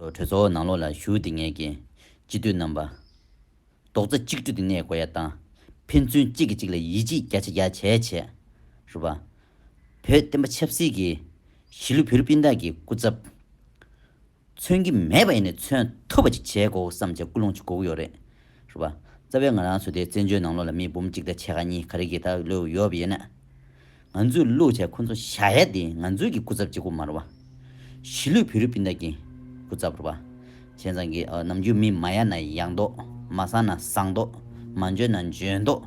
གྲོས་ཚོགས་ནང་ལོགས་ལ་ཞུགས་ཏེ་ངེད་ཀྱི། སྤྱི་འཐུས་རྣམ་པ། རྡོག་རྩ་གཅིག་སྒྲིལ་དུ་གནས་དགོས་ཡ་དང། ཕན་ཚུན་གཅིག་གིས་གཅིག་ལ་ཡིད་ཆེས་རྒྱ་ཆེ་རྒྱ་ཆེ་བྱེད། རུ་བ། བོད་བསྟན་པ་ཆབ་སྲིད་ཀྱི། གཞིས་ལུས་བོད་རིགས་སྤུན་ཟླ་ཀྱི་སྐུ་ཚབ། མཚོན་གྱི་མེད་པ་ཡིན་ནས་མཚོན་ཐུབ་པ་ཅིག་བྱེད་དགོས་བསམ་བྱ་ཀུན་སློང་ཅིག་དགོས་ཀྱི་ཡོད་རེད། རུ་བ། རྩ་བའི་ང་རང་ཚོ་དེ་བཙན་བྱོལ་ནང་ལོགས་ལ་མི་འབུམ་གཅིག་དང་ཕྱེད་ཀ་གཉིས་ག་རེ་གིས་ད་ལོས་ཡོད་པ་ཡིན། ང་ཚོས་བློས་བྱས་ཁོ་ཚོ་ཤ་ཡ་དེ་ང་ཚོའི་གི་སྐུ་ཚབ་གཅིག་པུ་མ་རུ་བ། གཞིས་ལུས་བོད་རིགས་སྤུན་ཟླ་གི་སྐུ་ཚབ་རུ་བ། བྱས་ཙང་གི་ནམ་རྒྱུན་མི་མ་ཡག་ན་ཡག་མདོག་མ་བཟང་ན་བཟང་མདོག་མ་འཇོན་ན་འཇོན་མདོག།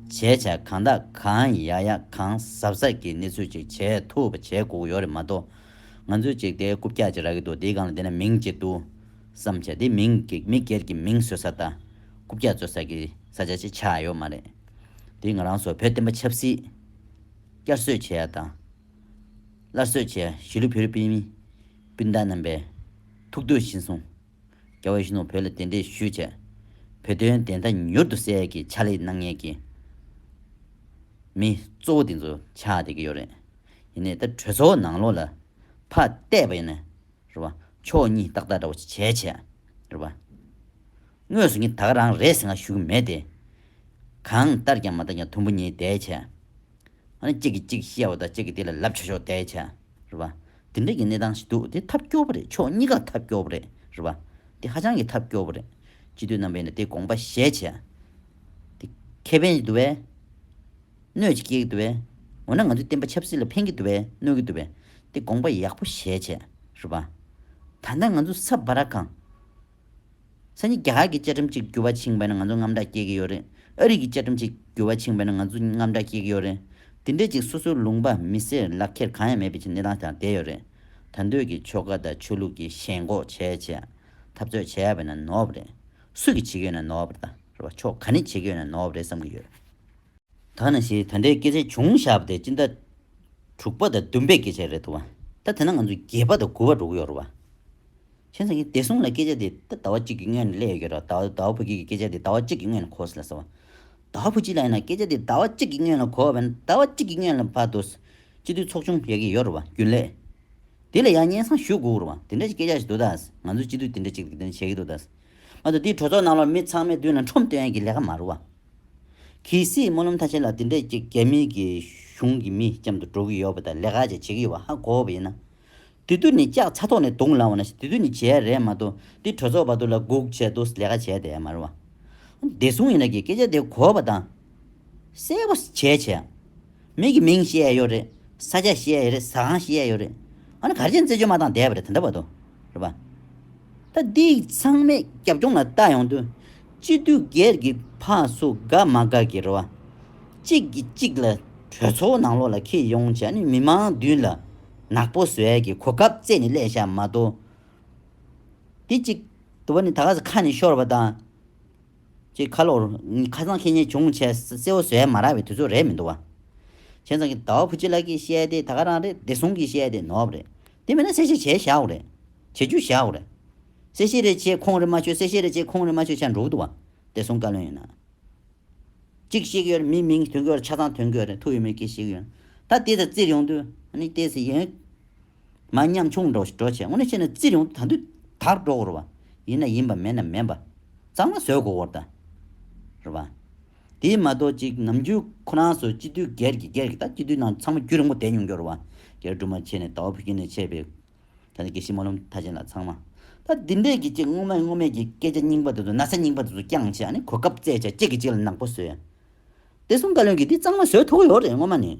བྱས་བྱས་གང་དག་གང་ཡག་ཡག་གང་ཟབ་ཟབ་གི་གནས་ཚུལ་ཅིག་བྱས་ཐུབ་པ་བྱས་གུག་ཡོད་རེད་མ་གཏོགས། ང་ཚོས་ཅིག་དེ་རྐུབ་བཀྱག་ཅིག་རག་གི་འདུག་དེའི་སྒང་ལ་བསྡད་ན་མིང་གཅིག་འདུག་བསམ་བྱས་དེ་མིང་གི་མི་སྒེར་གྱི་མིང་བཟོས་ས་དང་རྐུབ་བཀྱག་བཟོས་ས་གི་ས་ཆ་ཅིག་ཆགས་ཡོད་མ་རེད། དེས་ང་རང་ཚོ་བོད་བསྟན་པ་ཆབ་སྲིད། བསྐྱར་གསོས་བྱེད་ཡ་དང། སླར་གསོས་བྱེད་ཡ་གཞིས་ལུས་ཕེ་རུ་པི་མི། སྤུན་ཟླ་རྣམ་པས། ཐུགས་འདོད་བཞིན་སོང། རྒྱ་བོད་གཞིས་ནོར་བོད་ལ་གདན་འདྲེན་ཞུས་བྱས། བོད་དོན་བདེན་མཐའ་མྱུར་དུ་གསལ་གྱི་ཕྱག་ལས་གནང་ངེས་ཀྱི། མི་གཙོ་བོ་དེ་ཚོ་ཆགས་བསྡད་ཀྱི་ཡོད་རེད། ཡིན་ནའི་ད་གྲོས་ཚོགས་ནང་ལོགས་ལ། ཕ་གཏད་པ་ཡིན་ནའི། རེད་པ། ཕྱོགས་གཉིས་ཏག་ཏག་འདྲ་བོ་ཅིག་བྱས་བྱས། རེད་པ། དངོས་སུ་ངས་ད་ག་རང་རེད་ཟེར་ང་ཞུ་གི་མེད་དེ། གང་ལྟར་ཀྱང་མ་མཐའ་ཀྱང་དུམ་བུ་གཉིས་བསྡད་བྱས། ཨ་ནི་གཅིག་གིས་གཅིག་ཤི་ཡ་བ་དང་གཅིག་གིས་དེ་ལ་ལབ་ཆོག་ཆོག་བསྡད་བྱས། རེད་པ། དེ་འདྲ་གྱི་གནས་སྟངས་ཤིག་འདུག་དེ་ཐབས་སྐྱོ་བོ་རེད་ཕྱོགས་གཉིས་ཀ་ཐབས་སྐྱོ་བོ་རེད། རེད་པ། དེ་ཧ་ཅང་གི་ཐབས་སྐྱོ་བོ་རེད། སྤྱི་འཐུས་རྣམ་པས་ནི་དེ་དགོངས་པ་བཞེས་བྱས། དེ་ཁེ་ཕན་ཞིག་འདུག་བས། གནོད་ཅིག་སྐྱེ་གི་འདུག་བས། འོ་ན་ང་ཚོས་བསྟན་པ་ཆབ་སྲིད་ལ་ཕན་གི་འདུག་བས་གནོད་ཀྱི་འདུག་བས། དེ་དགོངས་པ་ཡག་པོ་བཞེས་བྱས། རེད་པ། ད་ལྟ་ང་ཚོ་ས་བ་ར་གང། ས་གཉིས་རྒྱ་གར་གྱི་བཅའ་ཁྲིམས་གཅིག་འགྱུར་བ་ཕྱིན་པས་ན་ང་ཚོ་རྔམ་དྲག་སྐྱེ་གི་ཡོད་རེད། ཨ་རིག་གི་བཅའ་ཁྲིམས་གཅིག་འགྱུར་བ་ཕྱིན་པས་ན་ང་ཚོ་རྔམ་དྲག་སྐྱེ་གི་ཡོད་རེད། དེ་འདྲའི་ཅིག་སོ་སོའི་ལུང་པ་མི་སེར་ལག་ཁྱེར་གང་ཡང་མེད་པའི་ཆེད་གནས་སྟངས་ཀྱང་བསྡད་ཡོད་རེད། ད་འདོད་ཀྱི་ཆོལ་ཁ་དང་ཆོས་ལུགས་ཀྱི་ཞེན་འགོག་བྱས་བྱས། འཐབ་རྩོད་བྱས་པས་ན་ནོར་བ་རེད། སུ་གི་བྱེད་ཀྱི་ཡོད་ན་ནོར་བ་རེད། རེད་པ། ཕྱོགས་ག་ནས་བྱེད་ཀྱི་ཡོད་ན་ནོར་བ་རེད་བསམ་གྱི་ཡོད། ཐ་ན་ཞེས་ད་འདྲའི་སྐད་ཆ་བྱུང་བཞག་པ་དེ་ཅི་འདྲ། དྲུག་པ་དང་བདུན་པའི་སྐད་ཆ་རེད་འདུག་བ། ད་དེ་ན་ང་ཚོ་བརྒྱད་པ་དང་དགུ་བ་འགྲོ་གི་ཡོད་རེད་བ། ཁྱེད་ཚང་གིས་བདེ་སྲུང་ལ་སྐད་ཆ་དེ་ད་ཟླ་བ་གཅིག་གི་སྔོན་ནས་གླས་ཡོད་ཀྱི་རེད་བ། ད་ཟླ་བ་བུ་སྐྱིད་ཀྱིས་སྐད་ཆ་དེ་ཟླ་བ་གཅིག་གི་སྔོན་ལ་གོ་ཟེར་ལ་ཟེར་བ། ཟླ་བ་བུ་སྐྱིད་ལ་ཡིན་ན་སྐད་ཆ་དེ་ཟླ་བ་གཅིག་གི་སྔོན་ལ་གོ་བ་བས་ན་ཟླ་བ་གཅིག་གི་སྔོན་ལ་བར་དུ། སྤྱི་འཐུས་ཚོགས་ཆུང་ཡག་གི་ཡོད་རེད་བ་རྒྱུན་ལས། དེ་ལ་ཡང་སྙན་སང་ཞུ་དགོས་ཀྱི་རེད་བ། དེ་འདྲ་ཞིག་སྐད་ཆ་ཞིག་འདུག་ད། ང་ཚོའི་སྤྱི་འཐུས་དེ་འདྲ་གཅིག་དེ་འདྲ་བྱེད་ཀྱི་འདུག་ད། ཨ་ཏོ་དེའི་གྲོས་ཚོགས་ནང་ལ་མི་ཚང་མའི་མདུན་ལ་ཁྲོམ་སྟོན་ཡག་གི་ལས་ཀ་མ་རེད་བ། གལ་སྲིད་སྨོན་ལམ་ཐ་ཆད་ལ་འདི་འདྲས་ཀྱི་རྒྱ་མི་གི་གཞུང་གི་མི་རྐྱམ་དུ་འགྲོ་གི་ཡོད་པ་དང་ལས་ཀ་ཅིག་བྱེད་ཀྱི་ཡོད་པ་ཧ་གོ་བ་ཡིན་ན། དེ་དུས་ནས་ལྕགས་ཚ་ཐོག་ནས་རྡུང་ལང་བ་ན་དེ་དུས་ནས་བྱས་རེད་མ་གཏོགས་འདི་གྲོས་ཚོགས་པ་དུ་ལ་སྒུག་བྱས་དུ་ལས་ཀ་བྱས་དེ་མ་རེད་བ། བདེ་སྲུང་ཡིན་ན་གི་སྐད་ཆ་དེ་གོ་བ་དང། གསལ་བོ་བྱས་བྱས། མིག་གི་མིང་བཤད་ཡོད་རེད། ས་སྐྱ་བཤད་ཡོད་རེད་ཟ་ཁང་བཤད་ཡོད་རེད། ཨ་ན་གར་ཆེན་རྩེ་ཆུ་མ་དང་བསྡད་པ་རེད་དེ་འདྲ་བ་དོ། རེད་པ། ད་འདི་ཚང་མས་རྒྱབ་སྐྱོང་ལ་བལྟ་ཡོང་དུས། སྤྱི་འཐུས་སྒེར་གྱི་ཕ་སུ་དགའ་མ་དགའ་གི་རེད་བ། གཅིག་གིས་གཅིག་ལ་གྲོས་ཚོགས་ནང་ལོགས་ལ་ཁེལ་ཡོང་བྱས་ནས་མི་མང་མདུན་ལ་ནག་པོ་བཟོས་གི་གོ་སྐབས་བཙལ་ནས་ཀླད་ཤག་མ་དོ། དེ་གཅིག། དུ་བ་ནི་ད་ག་ཟེ་ཁ་ནས་ཤོར་བ་དང། ཅེས་ཁ་ལོར། ཁ་སང་ཁྱེད་གཉིས་བྱུང་ཆས་སེར་བོ་བཟོས་མ་རག་པའི་དུས་ཚོད་རེད་མི་འདུག་བ། ཁྱེད་ཚང་གི་ཟླ་བ་བུ་ཆེ་ལགས་ཀྱིས་བཤད་དེ་ད་ག་རང་རེད་བདེ་སྲུང་གིས་བཤད་དེ་ནོར་བ་རེད། དེ་མིན་ན་གསལ་བཤད་བྱས་ཤག་འོ་རེད། བྱེད་རྒྱུ་ཤག་འོ་རེད། གསལ་བཤད་རེ་བྱས་ཁོང་རེ་མ་ཆོད་གསལ་བཤད་རེ་བྱས་ཁོང་རེ་མ་ཆོད་ཆ་འགྲུག་འདུག་བ། བདེ་སྲུང་བཀའ་བློན་ཡིན་ན། གཅིག་བཤད་ཀྱི་ཡོད་རེད་མིའི་མིང་དོན་གོ་རེད་ཆ་ཚང་དོན་གོ་རེད་ཐུགས་ཡོད་མེད་ཀྱིས་བཤད་ཀྱི་ཡོད་རེད། ད་དེ་དང་བཙིར་ཡོང་དུས་ནི་ལྟས་ཟིན། མ་ཉམས་ཆུང་འགྲོ་བྱེད་དངོས་གནས་ཤེས་ན་རྩིས་རིང་དང་དུས་དག་འགྲོ་དགོས་རེད་པ། ཡིན་ན་ཡིན་པ་མེད་ན་མེད་པ། གཙང་མ་བཟོས་དགོས་རེད་པ། དེ་མ་གཏོགས་ཅིག་ནམ་རྒྱུན་ཁོ་རང་ཚོ་སྤྱི་འཐུས་སྒེར་གྱི་སྒེར་གྱི་ད་སྤྱི་འཐུས་ནང་ཚང་མ་རྒྱུས་རིང་པོ་བསྡད་མྱོང་རྒྱུ་རེད་པ། སྒེར་སྒྲུབ་མ་བྱས་ནས་ད་བ་བུ་སྐྱེས་ནས་ཆད་པའི། ད་ནི་དགེ་བཤེས་སྨོན་ལམ་མཐའ་ཅན་ལ་ཚང་མ། ད་འདི་འདྲས་ཀྱི་ཅིག་སྔོན་མ་སྔོན་མའི་ཀྱི་སྐད་ཆ་རྙིང་པ་དེ་ཚོ་ན་ཚ་རྙིང་པ་དེ་ཚོ་རྐྱང་བྱས་ནས་གོ་སྐབས་བཙལ་བྱས་གཅིག་གིས་གཅིག་ལ་ནག་པོ་བཟོས། དེ་གསུམ་ཀ་ལོན་གྱིས་འདི་གཙང་མ་བཟོས་ཐུག་གི་ཡོད་རེད་སྔོན་མ་ནས།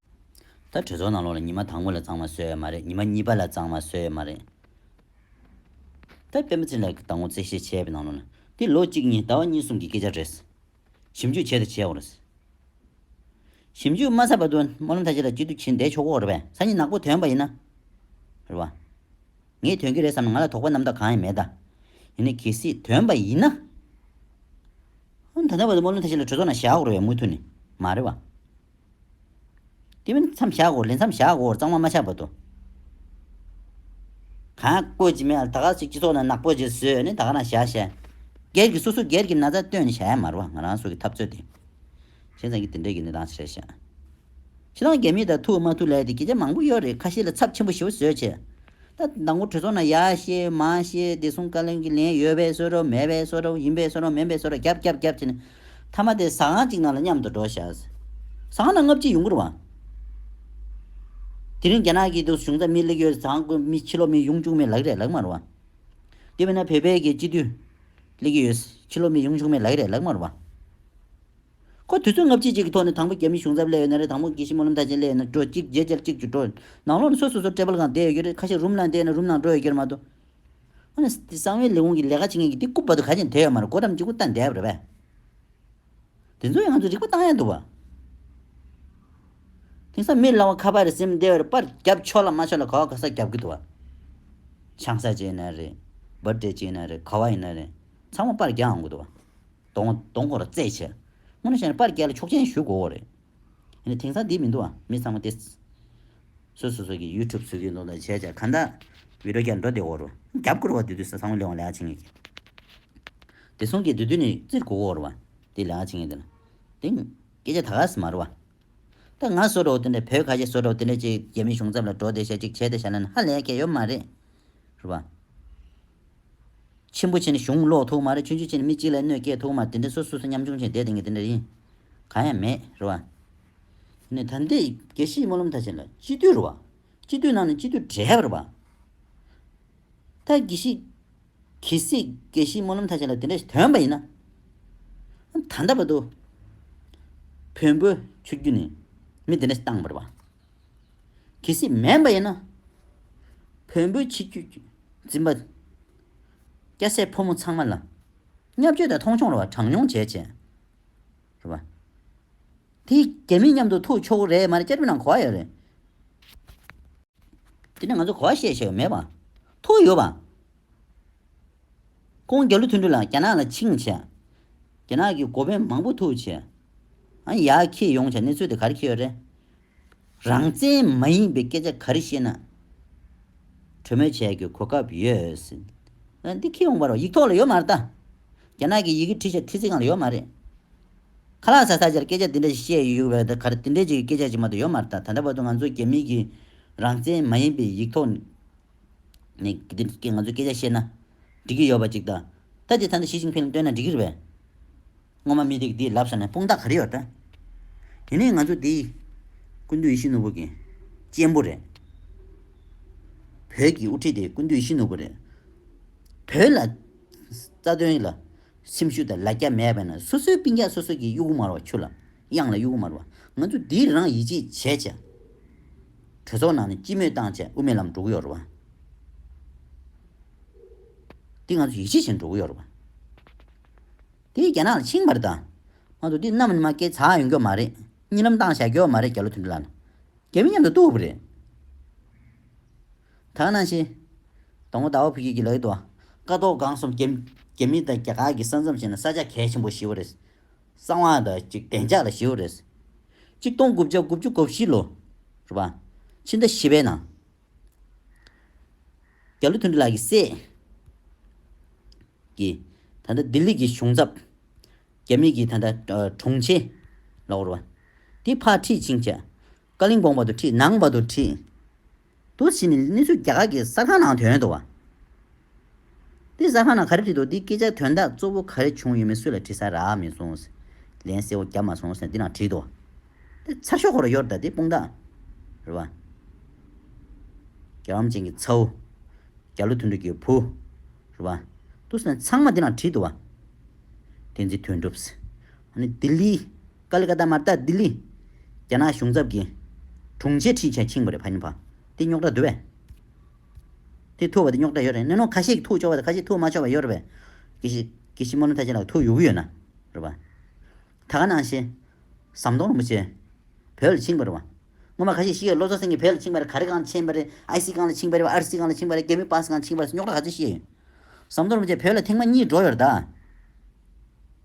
ད་གྲོས་ཚོགས་ནང་ལོགས་ལ་ཉི་མ་དང་པོ་ལ་གཙང་མ་བཟོས་ཡ་མ་རེད་ཉི་མ་གཉིས་པ་ལ་གཙང་མ་བཟོས་ཡ་མ་རེད། ད་སྤེན་པ་ཚེ་ལགས་ཀྱི་ད་ངོ་རྩེ་བཤད་བྱས་པའི་ནང་ལོགས་ལ་འདི་ལོ་གཅིག་གཉིས་ཟླ་བ་གཉིས་གསུམ་གྱི་སྐད་ཆ་རེད། ཞིབ་འཇུག་བྱས་དང་བྱས་འོག་རེད། ཞིབ་འཇུག་མ་ཚར་བར་དུ་སྨོན་ལམ་ཐ་ཆད་ལ་སྐྱིད་སྡུག་བྱེད་བསྡད་ཆོག་གོ་རེད་པས་ས་གཉིས་ནག་པོ་དོན་པ་ཡིན་ན། རེད་བ། ངས་དོན་གྱི་རེད་བསམ་ན་ང་ལ་དོགས་པ་རྣམ་དག་གང་ཡང་མེད་ད། ཡིན་ན་གལ་སྲིད་དོན་པ་ཡིན་ན། ད་ལྟ་བར་དུ་སྨོན་ལམ་ཐ་ཆད་ལ་གྲོས་ཚོགས་ནང་བཞག་འོག་རེད་བས་མུ་མཐུད་ནས་མ་རེད་བ། དེ་མིན་མཚམས་བཞག་གོ་ལེ་མཚམས་བཞག་གོ་གཙང་མ་མ་ཆགས་པ་དུ། གང་བཀོད་ཅི་མེད་ད་ག་ཅིག་སྤྱི་ཚོགས་ནང་ནག་པོ་རྗེས་བཟོས་ནི་ད་ག་ན་བཞག་བྱས། སྒེར་གྱི་སོ་སོ་སྒེར་གྱི་ན་ཚ་བཏོན་ནི་བྱས་མ་རུང་བ་ང་རང་སོ་གི་འཐབ་རྩོད་དེ། བྱས་ཙང་གི་དེ་འདྲས་གི་གནས་སྟངས་ཆེར་བྱས། ཕྱི་ནང་རྒྱ་མི་དང་ཐུག་མ་ཐུག་ལས་དེ་གྱི་ཆ་མང་པོ་ཡོད་རེད་ཁ་ཤས་ལ་ཚབས་ཆེན་པོ་ཞེ་བོ་བཟོས་བྱས། ད་དང་པོ་གྲོས་ཚོགས་ནང་ཡག་ཤེས་མ་ཤེས་བདེ་སྲུང་བཀའ་བློན་གྱི་ལན་ཡོད་པའི་གསོལ་རོགས་མེད་པའི་གསོལ་རོགས་ཡིན་པའི་གསོལ་རོགས་མིན་པའི་གསོལ་རོགས་རྒྱབ་རྒྱབ་རྒྱབ་བྱས་ནས་མཐའ་མ་དེ་ཟ་ཁང་གཅིག་ནང་ལ་མཉམ་དུ་འགྲོ་བཞག། ཟ་ཁང་ནང་ལྔ་བརྒྱའི་ཡུང་བཀུར་བ། དེ་རིང་རྒྱ་ནག་གིས་དུ་གཞུང་རྩ་མེད་གླེགས་ཡོད་ཟ་ཁང་བཀུར་མི་ཕྱི་ལོག་མི་ཡུང་ཆུང་མེད་ལག་རས་ལག་དམར་བ། དེ་མིན་ན་བོད་པའི་གི་སྤྱི་འཐུས་གླེགས་ཡོད་ཕྱི་ལོག་མི་ཡུང་ཆུང་མེད་ལག་རས་ལག་དམར་བ། ཁོ་དུས་ཚོད་ལྔ་བཅུ་གཅིག་གི་ཐོག་ནས་དང་པོ་རྒྱ་མིའི་གཞུང་ཚབ་སླེ་ཡོད་ན་རེད་དང་པོ་གིས་ཤི་མོ་ལམ་ཐག་ཆེན་སླེ་ཡོད་ན་འགྲོ་གཅིག་རྗེས་ཆར་གཅིག་གྱུར་འགྲོ། ནང་ལོགས་ནས་ཚོད་སོ་སོར་སྤྲད་པ་ལ་གང་བསྡད་ཡོད་ཀྱི་རེད་ཁ་ཤས་རུམ་ནང་བསྡད་ཡོད་ན་རུམ་ནང་འགྲོ་ཡོད་ཀྱི་རེད་མ་གཏོགས། ཨ་ནེ་དེ་གསང་བའི་ལས་ཁུངས་ཀྱི་ལས་ཀ་བྱེད་མཁན་གྱི་དེ་རྐུབ་བར་དུ་ག་ཅིག་དེད་ཡོད་མ་རེད་སྒོ་འགྲམ་གཅིག་པུ་བལྟ་འདས་པ་རེད་པས། དེ་ཚོ་ཡང་ང་ཚོས་རིག་པ་བཏང་ཡ་འདུག་བ། དེང་སང་མི་ལ་བ་ཁ་པར་རེ་སིམ་འདས་བར་པར་བརྒྱབ་ཆོག་ལ་མ་ཆོག་ལ་ག་བ་ག་ས་བརྒྱབ་གི་འདུག་བ། ཆང་ས་ཅིག་ཡིན་ན་རེད། སྦིར་ཏེ་ཅིག་ཡིན་ན་རེད་ག་བ་ཡིན་ན་རེད་ཚང་མ་པར་བརྒྱག་འང་དགོས་འདུག་བ། དོང་བ་དོང་སྐོར་རྩེད་ཆས། སྔོན་ནས་བཤད་ནས་པར་བསྐྱལ་ལ་ཆོག་མཆན་ཞུ་དགོས་འོ་རེད། ཡིན་ན་དེང་སང་དེ་མི་འདུག་ཨ་མི་ཚང་མ་དེ། སོ་སོ་སོ་གི YouTube སུ་ཡོད་འདུག་ལ་བྱས་བྱས་ག་འདྲ། Video བསྐྱལ་འགྲོ་དེ་འོ་རུ། རྒྱབ་སྐུར་བ་དེ་དུས་ས་ཚང་མ་ལེ་བ་ལེགས་བྱེད་ངེས་ཀྱི། དེ་སོང་གི་དེ་དུས་ནས་རྩིར་གོ་གོ་རུ་བ། དེ་ལེགས་བྱེད་ངེས་དེ་ལ། དེ། སྐད་ཆ་ད་ག་ཟེ་མ་རུ་བ། ད་ང་བཟོ་གྲོགས་དེ་འདྲ་བོད་ཁ་ཤས་བཟོ་གྲོགས་དེ་འདྲ་ཅིག་རྒྱ་མིའི་གཞུང་ཚབ་ལ་འགྲོ་བདེ་ཤ་ཅིག་བྱས་ཏེ་བཞག་ན་ནི་ཧ་ལས་སྐལ་ཡོད་མ་རེད། རེད་པ། ཆེན་པོ་ཆེ་ནི་གཞུང་ཀློག་ཐུབ་མ་རེད་ཆུང་ཆུང་ཆེ་ནི་མི་གཅིག་ལས་གནོད་སྐྱེལ་ཐུབ་མ་རེད་དེ་འདྲ་སོ་སོ་སོ་ཉམ་ཆུང་ཆེ་འདས་དེ་ངས་དེ་འདྲ་ཡིན། གང་ཡང་མེད། རེད་པ། དེ་ནས་ད་འདི་དགེ་བཤེས་སྨོན་ལམ་ཐ་ཆེན་ལ་སྤྱི་འཐུས་རེད་བ། སྤྱི་འཐུས་ནང་ནས་སྤྱི་འཐུས་གྲས་རེད་བ། ད་གི་ཤི། གི་སྲིད་དགེ་བཤེས་སྨོན་ལམ་ཐ་ཆད་ལ་དེ་འདྲ་ཞིག་དོན་པ་ཡིན་ན། ད་ལྟ་བར་དུ། བོན་པོའི་ཆོས་བརྒྱུད་ནས་མི་དེ་འདྲ་ཞིག་བཏང་མེད་པ། གི་སྲིད་མེད་པ་ཡིན་ན། བོན་པོའི་ཆིག་བརྒྱུད་འཛིན་པ། སྐྱ་སེར་ཕོ་མོ་ཚང་མ་ལ། བརྙས་བཅོས་དང་མཐོང་ཆུང་རེ་བ་གྲངས་ཉུང་བྱས་བྱས། རེ་བ། དེ་རྒྱ་མི་མཉམ་དུ་ཐུག་ཆོག་གི་རེད་མ་རེད་བསྐྱར་ཕུད་ནང་གོ་བ་ཡོད་རེད། དེ་ནས་ང་ཚོ་གོ་བ་བཤད་བཤད་ཡོད་མེད་པ། ཐུག་ཡོད་པ། ཁོང་རྒྱ་ལོ་མཐུན་འགྲུལ་ལ་རྒྱ་ནག་ལ་ཆིངས་བྱས། རྒྱ་ནག་གི་འགོ་དཔོན་མང་པོ་ཐུག་བྱས། ཨང་ཡག་ཁྱེད་ཡོང་བྱས་གནས་ཚུལ་དེ་ག་རེ་ཁྱེད་ཡོད་རེད། རང་བཙན་མ་ཡིན་པའི་སྐད་ཆ་ག་རེ་བཤད་ན། གྲོས་མོལ་བྱས་གི་གོ་སྐབས་ཡོད་སྲིད། འདི་ཁྱེད་ཡོང་བར་ཡིག་ཐོག་ལ་ཡོད་མ་རེད་ད། རྒྱ་ནག་གི་ཡི་གེ་བྲིས་བྱས་ཐི་ཚིག་གང་ལ་ཡོད་མ་རེད། ཁ་ལག་ཟ་ས་ཆར་སྐད་ཆ་དེ་འདྲ་ཞིག་བཤད་ཡོད་བས་ད་གར་དེ་འདྲའི་ཅིག་སྐད་ཆ་ཞིག་མ་གཏོགས་ཡོད་མ་རེད་ད་ད་ལྟ་བར་དུ་ང་ཚོ་རྒྱ་མི་གིས་རང་བཙན་མ་ཡིན་པའི་ཡིག་ཐོག་ནས་ནས་ང་ཚོས་སྐད་ཆ་བཤད་ན་འགྲིག་གི་ཡོད་པ་ཅིག་ད་ལྟ་དེ་ད་ནི་ཞི་ཅིང་ཕིན་ལ་སྟོན་ན་འགྲིག་གི་རེད་བས། སྔོན་མ་མི་དེ་གིས་དེའི་ལབ་ས་ནས་དཔུང་རྟགས་ག་རེ་ཡོད་ད། དེ་ནས་ང་ཚོ་དེའི་ཀུན་འདུས་ཡེ་ཤེས་ནོར་བུ་གི་གཅེན་པོ་རེད། བོད་ཀྱི་དབུ་ཁྲིད་དེ་ཀུན་འདུས་ཡེ་ཤེས་ནོར་བུ་རེད། བོད་ལ་རྩ་དོན་ལ། སེམས་ཤུགས་དང་ལ་རྒྱ་མེད་པས་ན་སོ་སོའི་པིང་ཀྱག་སོ་སོ་གིས་གཡོ་ཁུ་མར་བ་ཆུ་ལ་དབྱངས་ལ་གཡོ་ཁུ་མར་བ་ང་ཚོ་འདིས་རང་ཡིད་ཆེས་བྱས་བྱས། གྲོས་ཚོགས་ནང་ནས་སྤྱི་མོས་བཏང་བྱས་དབུ་མའི་ལམ་འགྲོ་གི་ཡོད་རེད་བ། འདི་ང་ཚོ་ཡིད་ཆེས་བྱས་འགྲོ་གི་ཡོད་རེད་བ། དེ་རྒྱ་ནག་ལ་འཆིང་བར་དང། ང་ཚོ་འདི་གནམ་ནས་མ་སྐྱེས་ཚ་ཡོང་གི་མ་རེད་གཉིད་ལམ་བཏང་བྱས་གི་ཡོད་མ་རེད་རྒྱ་ལོ་དུ་འདི་ལ་ན། རྒྱ་མི་མཉམ་དུ་ལྟོ་བུ་རེད། དག་སྣང་ཆེ། དང་པོ་ཟླ་བ་ཕུ་སྐྱིད་ཀྱིས་ལག་ཏུ། བཀའ་ཟློག་སྒང་གསུམ་རྒྱ་རྒྱ་མི་དང་རྒྱ་གར་གྱི་ས་མཚམས་བྱས་ན་ས་ཆ་གལ་ཆེན་པོ་བཞི་བོ་རེད། གསང་བ་དང་གཅིག་བདེ་འཇགས་ལ་བཞི་བོ་རེད། གཅིག་སྟོང་དགུ་བརྒྱ་དགུ་བཅུ་གོ་བཞི་ལོ། རེད་པ། ཕྱི་ཟླ་བཞི་པའི་ནང། རྒྱ་ལོ་ཐུན་ཏྲི་ལགས་ཀྱི་སྲས། ཀྱིས། ད་ལྟ་ལྡི་ལི་གྱི་གཞུང་ཚབ། རྒྱ་མི་གྱི་ད་ལྟ་དྲུང་ཆེ། ལགས། རེད་པ། དེ་ཕར་ཁྲིད་ཕྱིན་བྱས། ཀ་གླིང་གོང་བར་དུ་ཁྲིད་ནང་བར་དུ་ཁྲིད། དུ་ཕྱིན་ནས་གནས་ཚུལ་རྒྱ་གར་གྱི་གསར་ཁང་ནང་དོན་དུ་བ། དེ་གསར་ཁང་ནང་ག་རེ་བྲིས་འདུག་འདིའི་སྐད་ཆ་དོན་དག་གཙོ་བོ་ག་རེ་བྱུང་ཡོད་མེད་སུ་ལ་དྲི་ས་རག་མི་སོང་ཟེར། ལན་གསལ་བོ་བརྒྱབ་མ་སོང་ཟེར་འདི་ནང་བྲིས་འདུག་དེ་ཚར་ཤོག་ཁོ་ར་ཡོར་ད་དེ་དཔུང་རྟགས་རེད་བ། རྒྱ་འམ་ཅན་གྱི་ཚའུ། རྒྱ་ལོ་མཐུན་འགྲུབ་ཀྱི་བུ། རེད་བ། དུ་ཟེར་ནས་ཚང་མ་འདི་ནང་བྲིས་འདུག་བ། དེ་འཛིན་དོན་འགྲུབ། ལྡི་ལི། Kolkata། མ་རྟ་ལྡི་ལི། རྒྱ་ནག་གཞུང་ཚབ་ཀྱི། དྲུང་ཆེ་ཁྲི་ཆེ་ཆིང་བ་རེད་བྷ་ཉི་བྷ། དེ་རྙོག་དྲ་འདུལ་བས། དེ་ཐུག་བ་དེ་རྙོག་དྲ་ཡོད་རེད་ནས་ནོ་ཁ་ཤས་ཀྱི་ཐུག་ཆོག་བ་དང་ཁ་ཤས་ཐུག་མ་ཆོག་བ་ཡོད་རེད་བས། ཀི་ཤི། ཀི་ཤི་མོ་ནོ་ཐ་ཆེ་ལགས་ཐུག་ཡོད་གི་ཡོད་ན། རེད་བ། ད་ག་ནང་ཤེས། ཟམ་གདོང་རིན་པོ་ཆེ། བོད་ལ་ཆིང་བ་རེད་བ། སྔོན་མ་ཁ་ཤས་ཤེས་ཡོད་ལོ་ཙཱ་སེང་གིས་བོད་ལ་ཆིང་བ་རེད་ག་རེ་གང་ལ་ཆེན་པ་རེད་ཨའི་སི་གང་ལ་ཆིང་བ་རེད་བ་ཨར་སི་གང་ལ་ཆིང་བ་རེད་གད་མོའི་པཱས་གང་ལ་ཆིང་བ་རེད་སོགས་རྙོག་དྲ་ག་ཚོད་ཤེས་ཡོད། ཟམ་གདོང་རིན་པོ་ཆེ་བོད་ལ་ཐེངས་མ་གཉིས་འགྲོ་ཡོད་རེད་ད།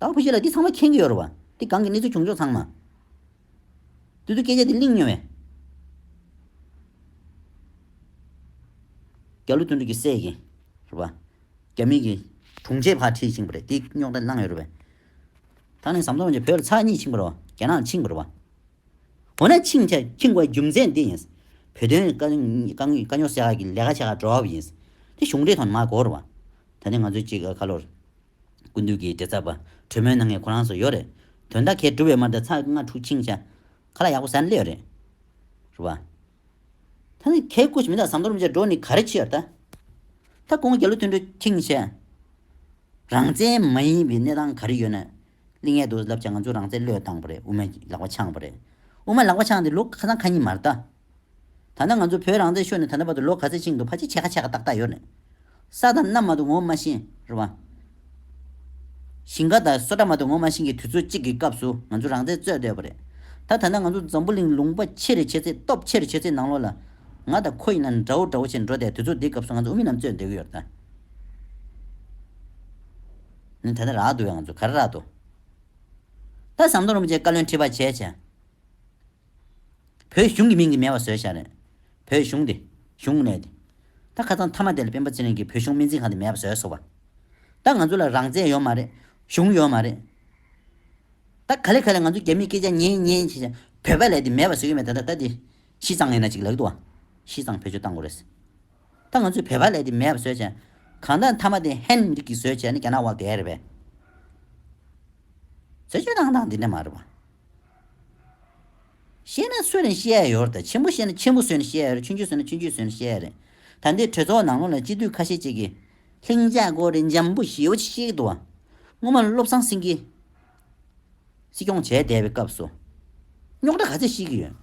བདག་བུ་ཤེས་ལ་འདི་ཚང་མ་མཁྱེན་གྱི་ཡོད་རོ། འདི་སྒང་གི་གནས་ཚུལ་བྱུང་ཕྱོགས་ཚང་མ། དུས་ཚོད་སྐད་ཆ་འདི་གླིང་སྨྱོན་བས། རྒྱ་ལོ་དོན་གྲུབ་ཀྱི་སྲས་ཀྱིས། རུ་བ། རྒྱ་མིང་གི། དྲུང་ཆེ་བར་ཁྲིད་ཕྱིན་པ་རེད་འདི་རྙོག་དྲ་བསླངས་ཡོད་རུ་བས། ད་ནི་ཟམ་གདོང་གྱིས་བོད་ལ་ཚགས་གཉིས་ཕྱིན་པར་རོ། རྒྱ་ནག་ལ་ཕྱིན་པར་རུ་བ། འོ་ན་ཕྱིན་ཆ་ཕྱིན་དགོས་རྒྱུ་མཚན་འདི་ཡིན། བོད་དོན་དཀའ་རྙོག་སེལ་ཁག་གི་ལས་ཀ་བྱེད་ཁག་འགྲོ་བ་ཡིན། དེ་གཞུང་འབྲེལ་ཐོག་ནས་མ་གོ་རུ་བ། ད་ནི་ང་ཚོའི་གཅིག་ཁ་ལོར། ཀུན་འདུས་ཀྱི་དྲི་ཚ་བ། དྲོད་མོའི་སྣ་ལྔས་ཁོ་རང་སོ་ཡོད་རེད། དོན་དག་ཁས་གྲུབ་བའི་མ་འདྲ་ཚ་ལྔ་འཁྲུག་འཆིང་བྱ། ཁ་ལ་ཡག་པོ་ཟ་ནི་ལེ་ཡོད་རེད། རེད་བ། ད་ནི་ཁལ་བཀོད་བྱེད་མི་དག་ཟམ་གདོང་རིན་ཆེན་འགྲོ་ནི་ག་རེ་ཆི་ཡར་ད། ད་ཀོང་རྒྱལ་ལོ་མཐུན་འགྲོ་འཁྱིང་བྱ། རང་བཙན་མ་ཡིན་པའི་གནས་སྟངས་ག་རེ་ཡོད་ན། གླིང་ཡལ་དུ་བསླབ་བྱ་ང་ཚོའི་རང་བཙན་བློས་བཏང་བ་རེད་དབུ་མའི་ལག་པ་འཆང་བ་རེད། དབུ་མ་ལག་པ་འཆང་སྟེ་ལོ་ཁ་ཚང་ཁ་ཉིན་མར་ད། ད་ནི་ང་ཚོ་བོད་རང་བཙན་ཤོར་ནས་ད་ལྟ་བར་དུ་ལོ་ག་ཚད་ཕྱིན་འདུག་ཕ་ཅིག་ཆད་ཁ་ཆད་ཁ་ཏག་ཏག་ཡོད་རེད། ས་དང་གནམ་མ་དུ་ངོ་མ་ཤེས་རེད་བ། ཞིང་ཁ་དང་སོ་ཁྲ་མ་དུ་ངོ་མ་ཤེས་གི་དུས་ཚོད་ཅིག་གི་སྐབས་སུ་ང་ཚོ་རང་བཙན་རྩོད་བསྡད་པ་རེད། ད་ད་ནི་ང་ཚོ་འཛམ་བུ་གླིང་ལུང་པ་ཆེ་རེ་ཆེ་ཚེ་སྟོབས་ཆེ་རེ་ཆེ་ཚེ་ནང་ལོག་ལ། ང་དང་ཁོ་ཡིན་ན་འདྲ་བོ་འདྲ་བོ་བྱས་ནས་འགྲོ་བསྡད་དུས་ཚོད་འདིའི་སྐབས་སུ་ང་ཚོ་དབུ་མི་རྣམས་རྩོད་བསྡད་གི་ཡོད་རེད་ད། ནི་ད་ནི་རག་འདུག་བས་ང་ཚོ་ག་རེ་རག་འདུག། ད་ཟམ་གདོང་རིན་པོ་ཆེ་བཀའ་བློན་ཁྲི་པ་བྱས་བྱས། བོད་གཞུང་གི་མིང་གི་མེད་པ་བཟོས་ཤག་རེད། བོད་གཞུང་དེ། གཞུང་མེད་དེ། ད་ཁ་ཚང་མཐའ་མ་དེ་ལ་སྤེན་པ་ཚེ་རིང་གིས་བོད་གཞུང་སྨན་རྩིས་ཁང་དེ་མེད་པ་བཟོས་སོ་བ། ད་ང་ཚོ་ལ་རང་བཙན་ཡོད་མ་རེད། གཞུང་ཡོད་མ་རེད། ད་ག་ལེ་ག་ལེ་ང་ཚོ་རྒྱ་མིའི་སྐད་ཆ་ཉན་ཉན་བྱས་བྱས་བོད་པ་ལས་དེ་མེད་པ་བཟོས་ཀྱི་མེད་ད་ད་ད་དེ། བཞི་གཙང་ཡིན་ན་གཅིག་ལེགས་འདུག་བ། བཞི་གཙང་བོད་ཆོས་བཏང་དགོས་རེད། ད་ང་ཚོས་བོད་པ་ལས་དེ་མེད་པ་བཟོས་བྱས། གང་ལྟར་མཐའ་མ་དེ་ཧན་མི་རིགས་ཀྱིས་བཟོས་བྱས་ནི་རྒྱ་ནག་བ་འགས་རེད་བས། བཟོས་བྱས་བཏང་བཏང་དེ་འདྲ་མ་རེད་བ། ཤེས་ན་སུ་ནས་ཤེས་ཡ་ཡོད་རེད་ཆེན་པོ་ཤེས་ན་ཆེན་པོ་སུ་ནས་ཤེས་ཡ་ཡོད་རེད་ཆུང་ཆུང་སུ་ནས་ཆུང་ཆུང་སུ་ནས་ཤེས་ཡ་ཡོད་རེད་ད་འདིར་གྲོས་ཚོགས་ནང་ལོགས་ལ་སྤྱི་འཐུས་ཁ་ཤས་ཅིག་གིས། ལྷིང་འཇགས་སྒོ་རེད་འཇམ་པོ་ཞེ་བོ་ཅིག་བཤད་ཀྱི་འདུག་བ། སྔོན་མ་བློ་བཟང་སེང་གེས། སྲིད་སྐྱོང་བྱས་བསྡད་པའི་སྐབས་སུ། རྙོག་དྲ་ག་ཚད་ཤེས་ཀྱི་ཡོད།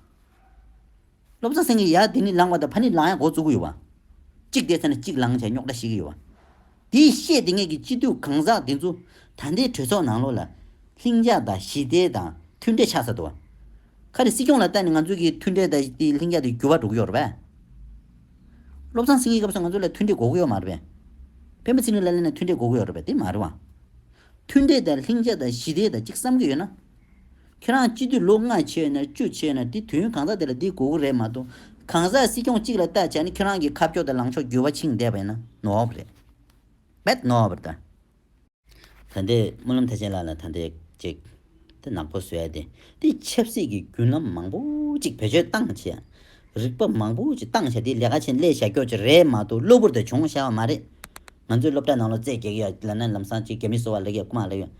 སློབ་ཚོགས་སེང་གེ་ཡག་དེ་ནི་ལངས་པ་དང་ཕ་ནི་ལངས་ཡག་འགོ་བཙུགས་ཀྱི་ཡོད་པ། གཅིག་དེ་ཚོ་ནི་གཅིག་ལངས་བྱས་རྙོག་དྲ་བྱེད་ཀྱི་ཡོད་པ། དེའི་བཤད་དེ་ངེད་ཀྱི་སྤྱི་འཐུས་གང་ཟག་དེ་ཚོ་ད་ལྟའི་གྲོས་ཚོགས་ནང་ལོགས་ལ། ལྷིང་འཇགས་དང་ཞི་བདེ་དང་མཐུན་འབྲེལ་ཆགས་ཚར་འདུག་བ། ཁ་རེ་སྲིད་སྐྱོང་ལ་བལྟ་ནས་ང་ཚོ་གི་མཐུན་འབྲེལ་དང་དེའི་ལྷིང་འཇགས་དེ་འགྱུར་བ་འགྲོ་གི་ཡོད་རེད་བས། སློབ་ཚང་སེང་གེ་སྐབས་སུ་ང་ཚོ་ལ་མཐུན་འབྲེལ་འགོག་གི་ཡོད་མ་རེད་བས། བན་བོ་ཚེ་རིང་ལ་ལས་ནས་མཐུན་འབྲེལ་འགོག་གི་ཡོད་རེད་བས་དེ་མ་རེད་བ། མཐུན་འབྲེལ་དང་ལྷིང་འཇགས་དང་ཞི་བདེ་དང་གཅིག་བསམ་གྱི་ཡོད་ན། ཁྱེད་རང་སྤྱི་འཐུས་ལོ་ལྔ་ཆེ་ན་བཅུ་ཆེ་ན་དེ་དུས་ཡུན་གང་ཟག་དེ་ལ་འདི་དགོས་གོ་རེད་མ་གཏོགས། གང་ཟག་སྲིད་སྐྱོང་གཅིག་ལ་ལྟ་བྱས་ན་ཁྱེད་རང་གི་ཁ་ཕྱོགས་དང་ལངས་ཕྱོགས་འགྱུར་བ་ཕྱིན་བསྡད་པ་ཡིན་ན་ནོར་བ་རེད། བེད་ནོར་བ་རེད། ད་ལྟའི་སྨོན་ལམ་ཐེག་ཆེན་ལགས་ལ་ད་ལྟའི་ཅིག་དེ་ནག་པོ་བཟོས་ཏེ་དེ་ཆབ་སྲིད་ཀྱི་རྒྱུན་ལམ་མང་པོ་ཅིག་བེད་སྤྱོད་བཏང་བྱས་རིག་པ་མང་པོ་ཅིག་བཏང་བྱས་དེ་ལས་ཀ་ཆེན་ལས་བྱ་ཁྱོ་ཅིག་རེད་མ་གཏོགས་གློ་བུར་དུ་བྱུང་བྱ་བ་མ་རེད། ང་ཚོའི་སློབ་གྲྭ་ནང་ལོ་ཙེ་རྒྱག་ཡ་ལ་ན་ལམ་སང་ཅིག་རྒྱ་མི་གསོ་བ་ལེགས་ཡ་རྐུ་མ་ལེགས་ཡ།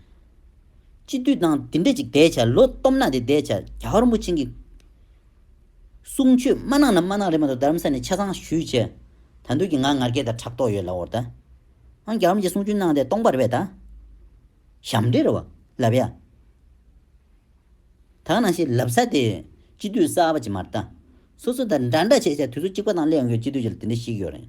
སྤྱི་འཐུས་དང་དེ་འདྲས་ཅིག་བསྡད་བྱ་ལོ་སྟོབས་ནག་དེ་བསྡད་བྱ་རྒྱ་ཧོར་མོ་ཆེན་གྱི་གསུང་ཆོས་སྨྲ་ནག་ནམ་སྨྲ་ནག་རེད་མ་གཏོགས་རྡ་རམ་ས་ནས་ཆ་ཚང་ཞུས་བྱས། ད་འདོད་ཀྱི་ང་ངར་སྐད་དང་ཕྲག་དོག་ཡོད་ལ་འོར་ད། ཨང་རྒྱ་ཧོར་མོ་ཆེ་གསུང་ཆོས་གནང་སྟེ་སྟོང་པ་རེད་བས་ད། ཞབས་འདྲེ་རེད་བ། ལབ་ཡ། ད་ག་ནང་ཤེས་ལབ་ས་དེ། སྤྱི་འཐུས་གསར་པ་ཅིག་མ་རེད་ད། སོ་སོ་ད་འདྲ་འདྲ་བྱས་བྱས་དུས་ཚོད་གཅིག་པ་དང་སླེ་ཡོང་རྒྱུར་སྤྱི་འཐུས་ཀྱི་ལ་དེ་འདྲ་ཞིག་ཡོད་རེད།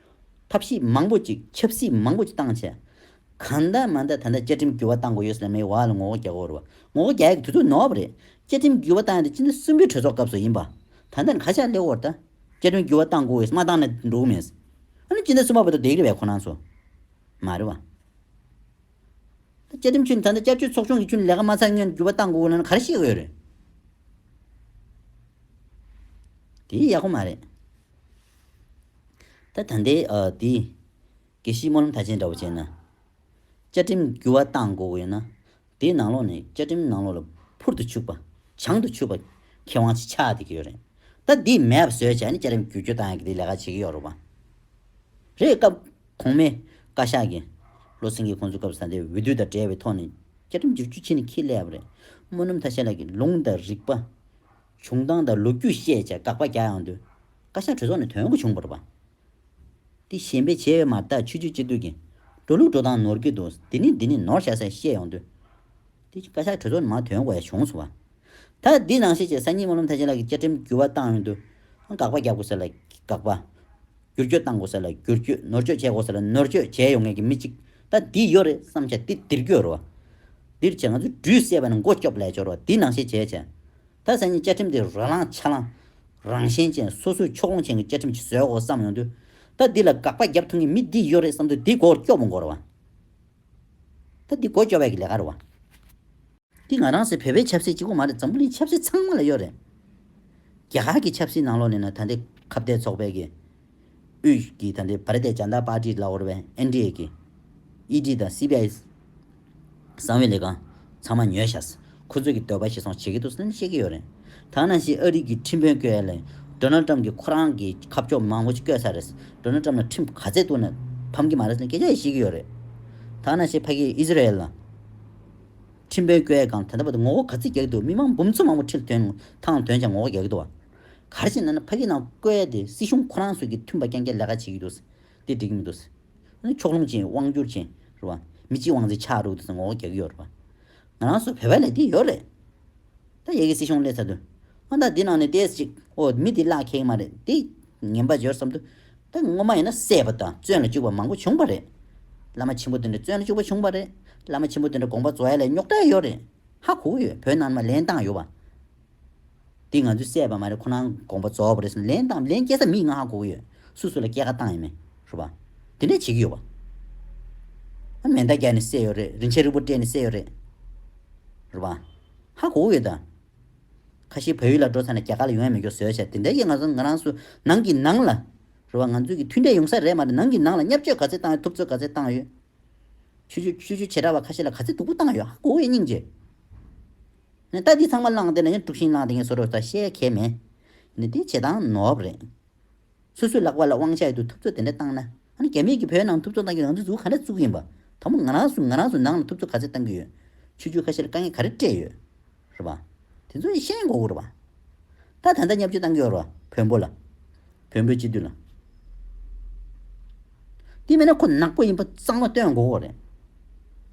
ཐབས་ཤེས་མང་པོ་ཅིག་ཁྱབ་སྲིད་མང་པོ་ཅིག་བཏང་བྱས། གང་འད་མ་འད་ད་འད་བཅའ་ཁྲིམས་འགྱུར་བ་བཏང་དགོས་ཡོད་སེ་མེད་བ་ལ་ངོ་བོ་རྒྱ་གོ་ངོ་བོ་རྒྱ་ཡིག་དུས་ཚོད་ནོར་བ་རེད། བཅའ་ཁྲིམས་འགྱུར་བ་བཏང་ཡོད་ད་ཕྱི་འད་གསུམ་པའི་གྲོས་ཚོགས་སྐབས་སུ་ཡིན་པ། ད་འད་ཁ་ཤ་སླེ་བོར་ད་བཅའ་ཁྲིམས་འགྱུར་བ་བཏང་དགོས་ཡོད་མ་བཏང་ན་འགྲོ་གི་མེད། ཨ་ནི་ཕྱི་འད་གསུམ་པ་བོད་དུ་བསྡད་གི་རེད་ཁོ་ན་ཚོ། མ་རེད་བ། བཅའ་ཁྲིམས་ཁྱོན་ད་འད་བཅའ་བཅོས་ཚོགས་ཆུང་གི་ཁྱོན་ལས་ཀ་མ་ཚར་ངས་འགྱུར་བ་བཏང་དགོས་ལ་ག་རེ་བཤད་གི་ཡོད་རེད། དེ་ཡག་པོ་མ་རེད། ད་ད་འདི་དེ། གེ་ཤིས་སྨོན་ལམ་ཐ་ཆེན་འདྲ་བོ་བྱས་ན། བཅའ་ཁྲིམས་བསྒྱུར་བ་བཏང་དགོས་ཀྱི་ཡོད་ན། དེའི་ནང་ལོགས་ནས་བཅའ་ཁྲིམས་ནང་ལོགས་ལ་འཕུར་དུ་ཆུག་པ། བྱང་དུ་ཆུག་པ། ཁེ་དབང་ཆེ་ཆགས་བསྡད་ཀྱི་ཡོད་རེད། ད་དེ་མེད་པ་བཟོས་བྱས་ནས་བཅའ་ཁྲིམས་བསྒྱུར་བཅོས་བཏང་ཡག་གི་དེ་ལས་ཀ་བྱེད་ཀྱི་ཡོད་རེད་པ། རེད་སྐབས་གོང་མའི། བཀའ་ཤག་གི། བློ་སེང་གིས་ཁོང་ཚོའི་སྐབས་ས་འདིར་འོས་བསྡུ་དང་བྲལ་བའི་ཐོག་ནས། བཅའ་ཁྲིམས་བསྒྱུར་བཅོས་བྱས་ནས་ཁྱི་ལས་ཡག་པ་རེད། སྨོན་ལམ་ཐ་ཤལ་ལགས་ཀྱིས་ལུང་དང་རིགས་པ། བྱུང་སྟངས་དང་ལོ་རྒྱུས་བཤད་བྱ་དགག་པ་བརྒྱ་ཡང་འདུག། བཀའ་ཤག་གྲོས་ཚོགས་ནས་དོན་གོ་བྱུང་བོར་བ། དེ་གཞན་པའི་བྱས་མ་ཐག་ཆོས་རྒྱུད་སྤྱི་འཐུས་ཀྱིས། འགྲོ་ལུགས་འགྲོ་སྟངས་ནོར་གྱི་འདུག་འདི་ནས་འདི་ནས་ནོར་བཞག་ས་བཤད་ཡོང་དུས། དེ་བཞིན་བཀའ་ཤག་གྲོས་ཚོགས་ནས་མ་དོན་གོ་ཡང་བྱུང་སོང་བ། ད་འདི་ནང་བཤད་བྱའི་སང་ཉིན་སྨོན་ལམ་ཐེག་ཆེན་ལགས་ཀྱིས་བཅའ་ཁྲིམས་འགྱུར་བ་བཏང་ཡོང་དུས། དགག་པ་རྒྱག་དགོས་ས་ལ་དགག་པ། བསྒྱུར་བཅོས་གཏང་དགོས་ས་ལ་བསྒྱུར་བཅོས་ནོར་བཅོས་བྱེད་དགོས་ས་ལ་ནོར་བཅོས་བྱས་ཡོང་ངེས་ཀྱི་མི་གཅིག་ད་འདི་ཡོད་རེད་བསམ་བྱ་དེ་འདིར་བསྐྱོད་རོགས། འདིར་བྱས་ང་ཚོས་འབྲུས་བསད་པ་ནི་མགོ་སྐྱོབ་ལས་ཆོག་རོགས་འདི་ནང་བཤད་བྱས་བྱས། ད་སང་ཉིན་བཅའ་ཁྲིམས་དེ་རོ་ལངས་ཆ་ལངས། རང་གཞན་ཅན་སོ་སོའི་ཕྱོགས་ལྷུང་ཅན་གྱི་བཅའ་ཁྲིམས་ཤིག་བཟོས་འོ་བསམ་ཡོང་དུས། ད་འདི་ལ་དགག་པ་རྒྱབ་ཐུབ་ངེས་མི་འདི་ཡོད་རེད་བསམ་དུས་འདི་མགོ་སྐྱོ་བོ་འགོ་རུ་བ། ད་འདི་མགོ་སྐྱོ་བས་ཀྱི་ལས་ཀ་རུ་བ། འདི་ང་རང་སེ་བོད་པའི་ཆབ་སྲིད་གཅིག་པོ་མ་རེད་འཛམ་བུ་གླིང་ཆབ་སྲིད་ཚང་མ་ལ་ཡོད་རེད། རྒྱ་གར་གྱི་ཆབ་སྲིད་ནང་ལོགས་ནས་ན་ད་འདི་ཁ་བརྡའི་ཚོགས་པས་ཀྱི། དབུས་ཀྱི་དང་འབྲེལ་བར་བརྡའི་བྱ་འདག་པར་ཏི་ལ་ཨོར་བན་ཨེན་ཏི་ཨེ་ཀི། ED། དང་སི་བྷི་ཨའི་གསང་བའི་ལས་ཁང་ཚང་མ་ཉོས་བཞག་ཁོ་ཚོས་ཀྱི་འདོད་པ་ཞིག་སོང་བྱེད་ཀྱི་འདུག་སེམས་ཤེས་ཀྱི་ཡོད་རེད། ཐ་ན་ཤི་ཨ་རིག་གི་ཁྲིམས་དཔོན་ཀེ་ལེ Donald Trump གྱིས་ཁོ་རང་གི་ཁ་ཕྱོགས་མང་བོ་ཅིག་བསྐྱོད་ས་རེད། Donald Trump ལ་ཁྲིམས་ག་ཚད་བཏུག་ན་ཕམ་གྱི་མ་རེད་སེམས་སྐད་ཆ་ཡིས་ཤེས་ཀྱི་ཡོད་རེད། ཐ་ན་ཤི་ཕ་ཀིས Israel ཁྲིམས་དཔོན་ཀེ་ལེ་གང་དེ་འདྲ་བ་དེ་ངོ་ལྐོག་ག་ཚད་རྒྱག་གི་འདུག་མི་མང་འབུམ་ཚོ་མང་བོ་ཁྲིམས་དོན་དང་དོན་བྱ་ངོ་ལྐོག་རྒྱག་གི་འདུག་བ། གར་བཞིན་ན་ནི་ཕ་གིའི་ནང་བཀོལ་ཏེ་སྲིད་གཞུང་ཁོ་རང་སོད་ཀྱི་མཐུན་པ་རྐྱང་རྐྱང་ལས་ཀ་བྱེད་ཀྱི་འདུག་དེ་འགྲིག་མི་འདུག། ཕྱོགས་ལྷུང་ཅན་དབང་བསྒྱུར་ཅན་རེད་བ། མི་གཅིག་དབང་ཚད་ཆགས་རུག་དེ་ངོ་རྒྱག་གི་ཡོད་རེད་བ། ང་རང་སོད་བོད་པ་ལས་དེ་ཡོད་རེད། ད་ཡེ་གི་སྲིད་གཞུང་སླེབས་ཚར་དུས། ཨ་མདའ་འདི་ནང་ནས་ཏེས་ཅིག་ཨོ་མི་འདི་བརླག་ཁེག་མ་རེད་དེ། ངན་པ་འབྱོར་བསམ་དུ། ད་སྔོན་མ་ཡིན་ན་སྲས་པོ་དང་བཙོན་ལ་བཅུག་པ་མང་པོ་བྱུང་བ་རེད། བླ་མ་ཆེན་པོ་དེ་འདྲ་བཙོན་ལ་བཅུག་པ་བྱུང་བ་རེད། བླ་མ་ཆེན་པོ་དེ་འདྲ་དགོངས་པ་རྫོགས་ཡ་ལས་རྙོག་དྲ་ཡོད་རེད། ཧ་གོ་གི་ཡོད་བོད་ནང་ནས་མ་ལེན་བཏང་ཡོད་བ། འདི་ང་ཚོས་བསད་པ་མ་རེད་ཁོ་ནའང་དགོངས་པ་རྫོགས་པ་རེད་ཟེར་ནས་ལན་བཏང་ལན་སྐྱེལ་ས་མིག་སྔ་ཧ་གོ་གི་ཡོད་སུ་སུ་ལ་སྐྱེལ་ཁ་བཏང་ཡོད་མེད་ཧྲུལ་པ། དེ་འདྲས་བྱེད་ཀྱི་ཡོད་པ། མེ་མདའ་བརྒྱག་ནས་བསད་ཡོད་རེད་རིན་ཆེན་རིང་པོ་སྤྲད་ནས་བསད་ཡོད་རེད་ཧྲུལ་པ། ཧ་གོ་གི་ཡོད་ད། ཁ་ཤི་བལ་ཡུལ་ལ་འགྲོ་ཚར་ནས་རྒྱ་གར་ལ་ཡོང་ཡ་མི་འགྱོ་ཟོལ་བྱས་དེ་འདྲས་ཀྱི་ང་ཚོ་ང་རང་སུ་ནང་གི་ནང་ལ་ཧྲུལ་པ་ང་ཚོས་ཀྱི་མཐུན་འབྲས་ཡོང་ས་རེད་མ་རེད་ནང་གི་ནང་ལ་བསྙབ་སྤྱོད་ག་ཚད་བཏང་ཡོད་ཐུབ་ཚོད་ག་ཚད་བཏང་ཡོད། ཆུ་ཆུ་ཆུ་ཆུ་བྱེད་དྲ་བ་ཁ་ཤི་ལ་ག་ཚད་སྡུག་པོ་བཏང་ཡོད་ཧ་གོ་གི་ཡོད་སྙིང་རྗེ། ནས། རྟགས་འདི་ཚང་མ་བླངས་དེ་ལ་ཡང་དཀྲུགས་ཤིང་བླངས་དེ་ངས་བཟོ་རོགས་ད་བཤད་མཁས་མེད། ནས་དེ་བྱེད་སྟངས་ནོར་བ་རེད། སོ་སོའི་ལག་པ་ལ་དབང་ཆ་ཡོད་དུས་ཐུབ་ཚོད་དེ་འདྲ་བཏང་ན། ཨ་ནི་རྒྱ་མིས་ཀྱིས་བོད་ནང་ཐུབ་ཚོད་བཏང་རྒྱུ་རང་ཚུགས་ཚུགས་ག་འདྲ་བཙུགས་ཀྱི་ཡིན་པ། ད་མོ་ང་རང་སུ་ང་རང་སུ་ནང་ལ་ཐུབ་ཚོད་ག་ཚད་བཏང་གི་ཡོད། ཆོས་བརྒྱུད་ཁ་ཤས་ལ་དཀའ་ངལ་ག་རེ་སྤྲད་ཡོད། རེད་པ། དེ་ཚོ་ཡང་ཤེས་མགོ་བོ་རེད་པ། ད་ད་ལྟ་བསྙབ་བྱེད་བཏང་གི་ཡོད་རེད་བ་བོན་པོ་ལ། བོན་པོའི་སྤྱི་འཐུས་ལ། དེ་མིན་ན་ཁོ་ནག་པོ་ཡིན་པ་གཙང་མ་སྟོན་དགོས་རེད།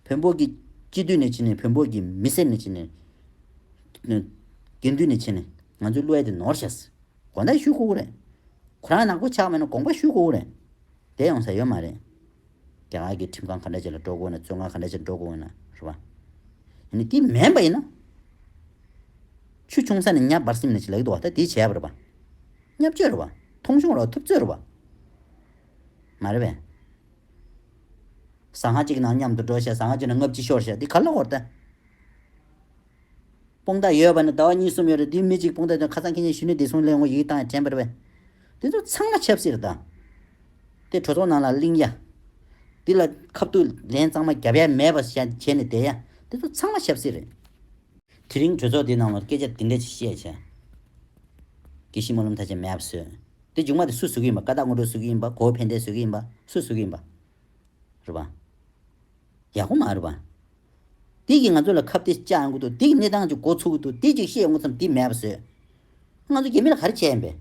བོན་པོ་གི་སྤྱི་འཐུས་ནས་ཕྱིན་ནས་བོན་པོ་གི་མི་སེར་ནས་ཕྱིན་ནས། དགེ་འདུན་ནས་ཕྱིན་ནས་ང་ཚོའི་གླུ་བ་དེ་ནོར་བྱས་སོ། དགོངས་དག་ཞུ་དགོས་རེད། ཁོ་རང་ནག་པོ་ཆགས་མེད་ན་དགོངས་པ་ཞུ་དགོས་རེད། དེ་ཡོང་ས་ཡོད་མ་རེད། རྒྱ་ནག་གི་ཁྲིམས་ཁང་ག་འདྲ་ཅིག་ལ་འགྲོ་དགོས་ན་བཙོན་ཁང་ག་འདྲ་ཅིག་འགྲོ་དགོས་ན་རེད་པ། ཡིན་ནའི་དེ་མེད་པ་ཡིན་ན། ཆུ་ཆུང་ས་ནས་གཉའ་འབར་སིམ་ནས་ཅིག་ལེགས་འདུག་བ་ད་དེ་བྱས་པ་རེད་པ། བསྙབ་བཅོས་རེད་པ། མཐོང་ཆུང་རེད་པ་ཐུབ་ཚོད་རེད་པ། མ་རེད་པས། ཟངས་ཧྭ་གཅིག་གི་ནང་མཉམ་དུ་འགྲོ་བྱས་ཟངས་ཧྭ་གཅིག་ནང་ལྔ་བཅུ་ཤོར་བྱས་དེ་ག་ལ་འོར་ལྟ། སྤུན་ཟླ་ཡོད་པ་ནི་ཟླ་བ་གཉིས་གསུམ་ཡོད་རེད་དེའི་མི་གཅིག་སྤུན་ཟླ་དེ་ཁ་ཚང་ཁྱེད་གཉིས་གཞི་ནས་བདེ་སྲུང་སླད་ངོ་ཡིག་དང་དྲན་པར་བས། དེ་ཚོ་ཚང་མ་ཆབ་སྲིད་དང། དེ་གྲོས་ཚོགས་ནང་ལ་གླིང་ཡ། དེ་ལ་ཁ་བཏུད་ལན་གཙང་མ་རྒྱབ་ཡ་མེད་པ་བྱས་ནས་བསྡད་ཡ། དེ་ཚོ་ཚང་མ་ཆབ་སྲིད་རེད། དེ་རིང་གྲོས་ཚོགས་དེའི་ནང་ལ་སྐད་ཆ་དེ་འདྲ་ཅིག་བཤད་བྱས། དགེ་བཤེས་སྨོན་ལམ་ཐ་ཆད་མེད་པ་བཟོས། དེ་མཇུག་མ་དེ་སུ་བཟོ་གི་ཡིན་པ་ཀ་དག་སྔོན་འགྲོ་བཟོ་གི་ཡིན་པ་གོ་བོ་ཕན་བདེ་བཟོ་གི་ཡིན་པ་སུ་བཟོ་གི་ཡིན་པ། རུ་བ། ཡག་པོ་མ་རུ་བ། དེ་གིས་ང་ཚོ་ལ་ཁ་བདེ་ལྕག་མགོ་ཐུག་བདེ་གི་གནས་སྟངས་ཅིག་འགོ་ཚུགས་འདུག་དེ་ཅིག་བཤད་འོང་ཙམ་དེ་མེད་པ་བཟོས། ང་ཚོ་རྒྱ་མི་ལ་ག་རེ་བྱས་ཡིན་པས།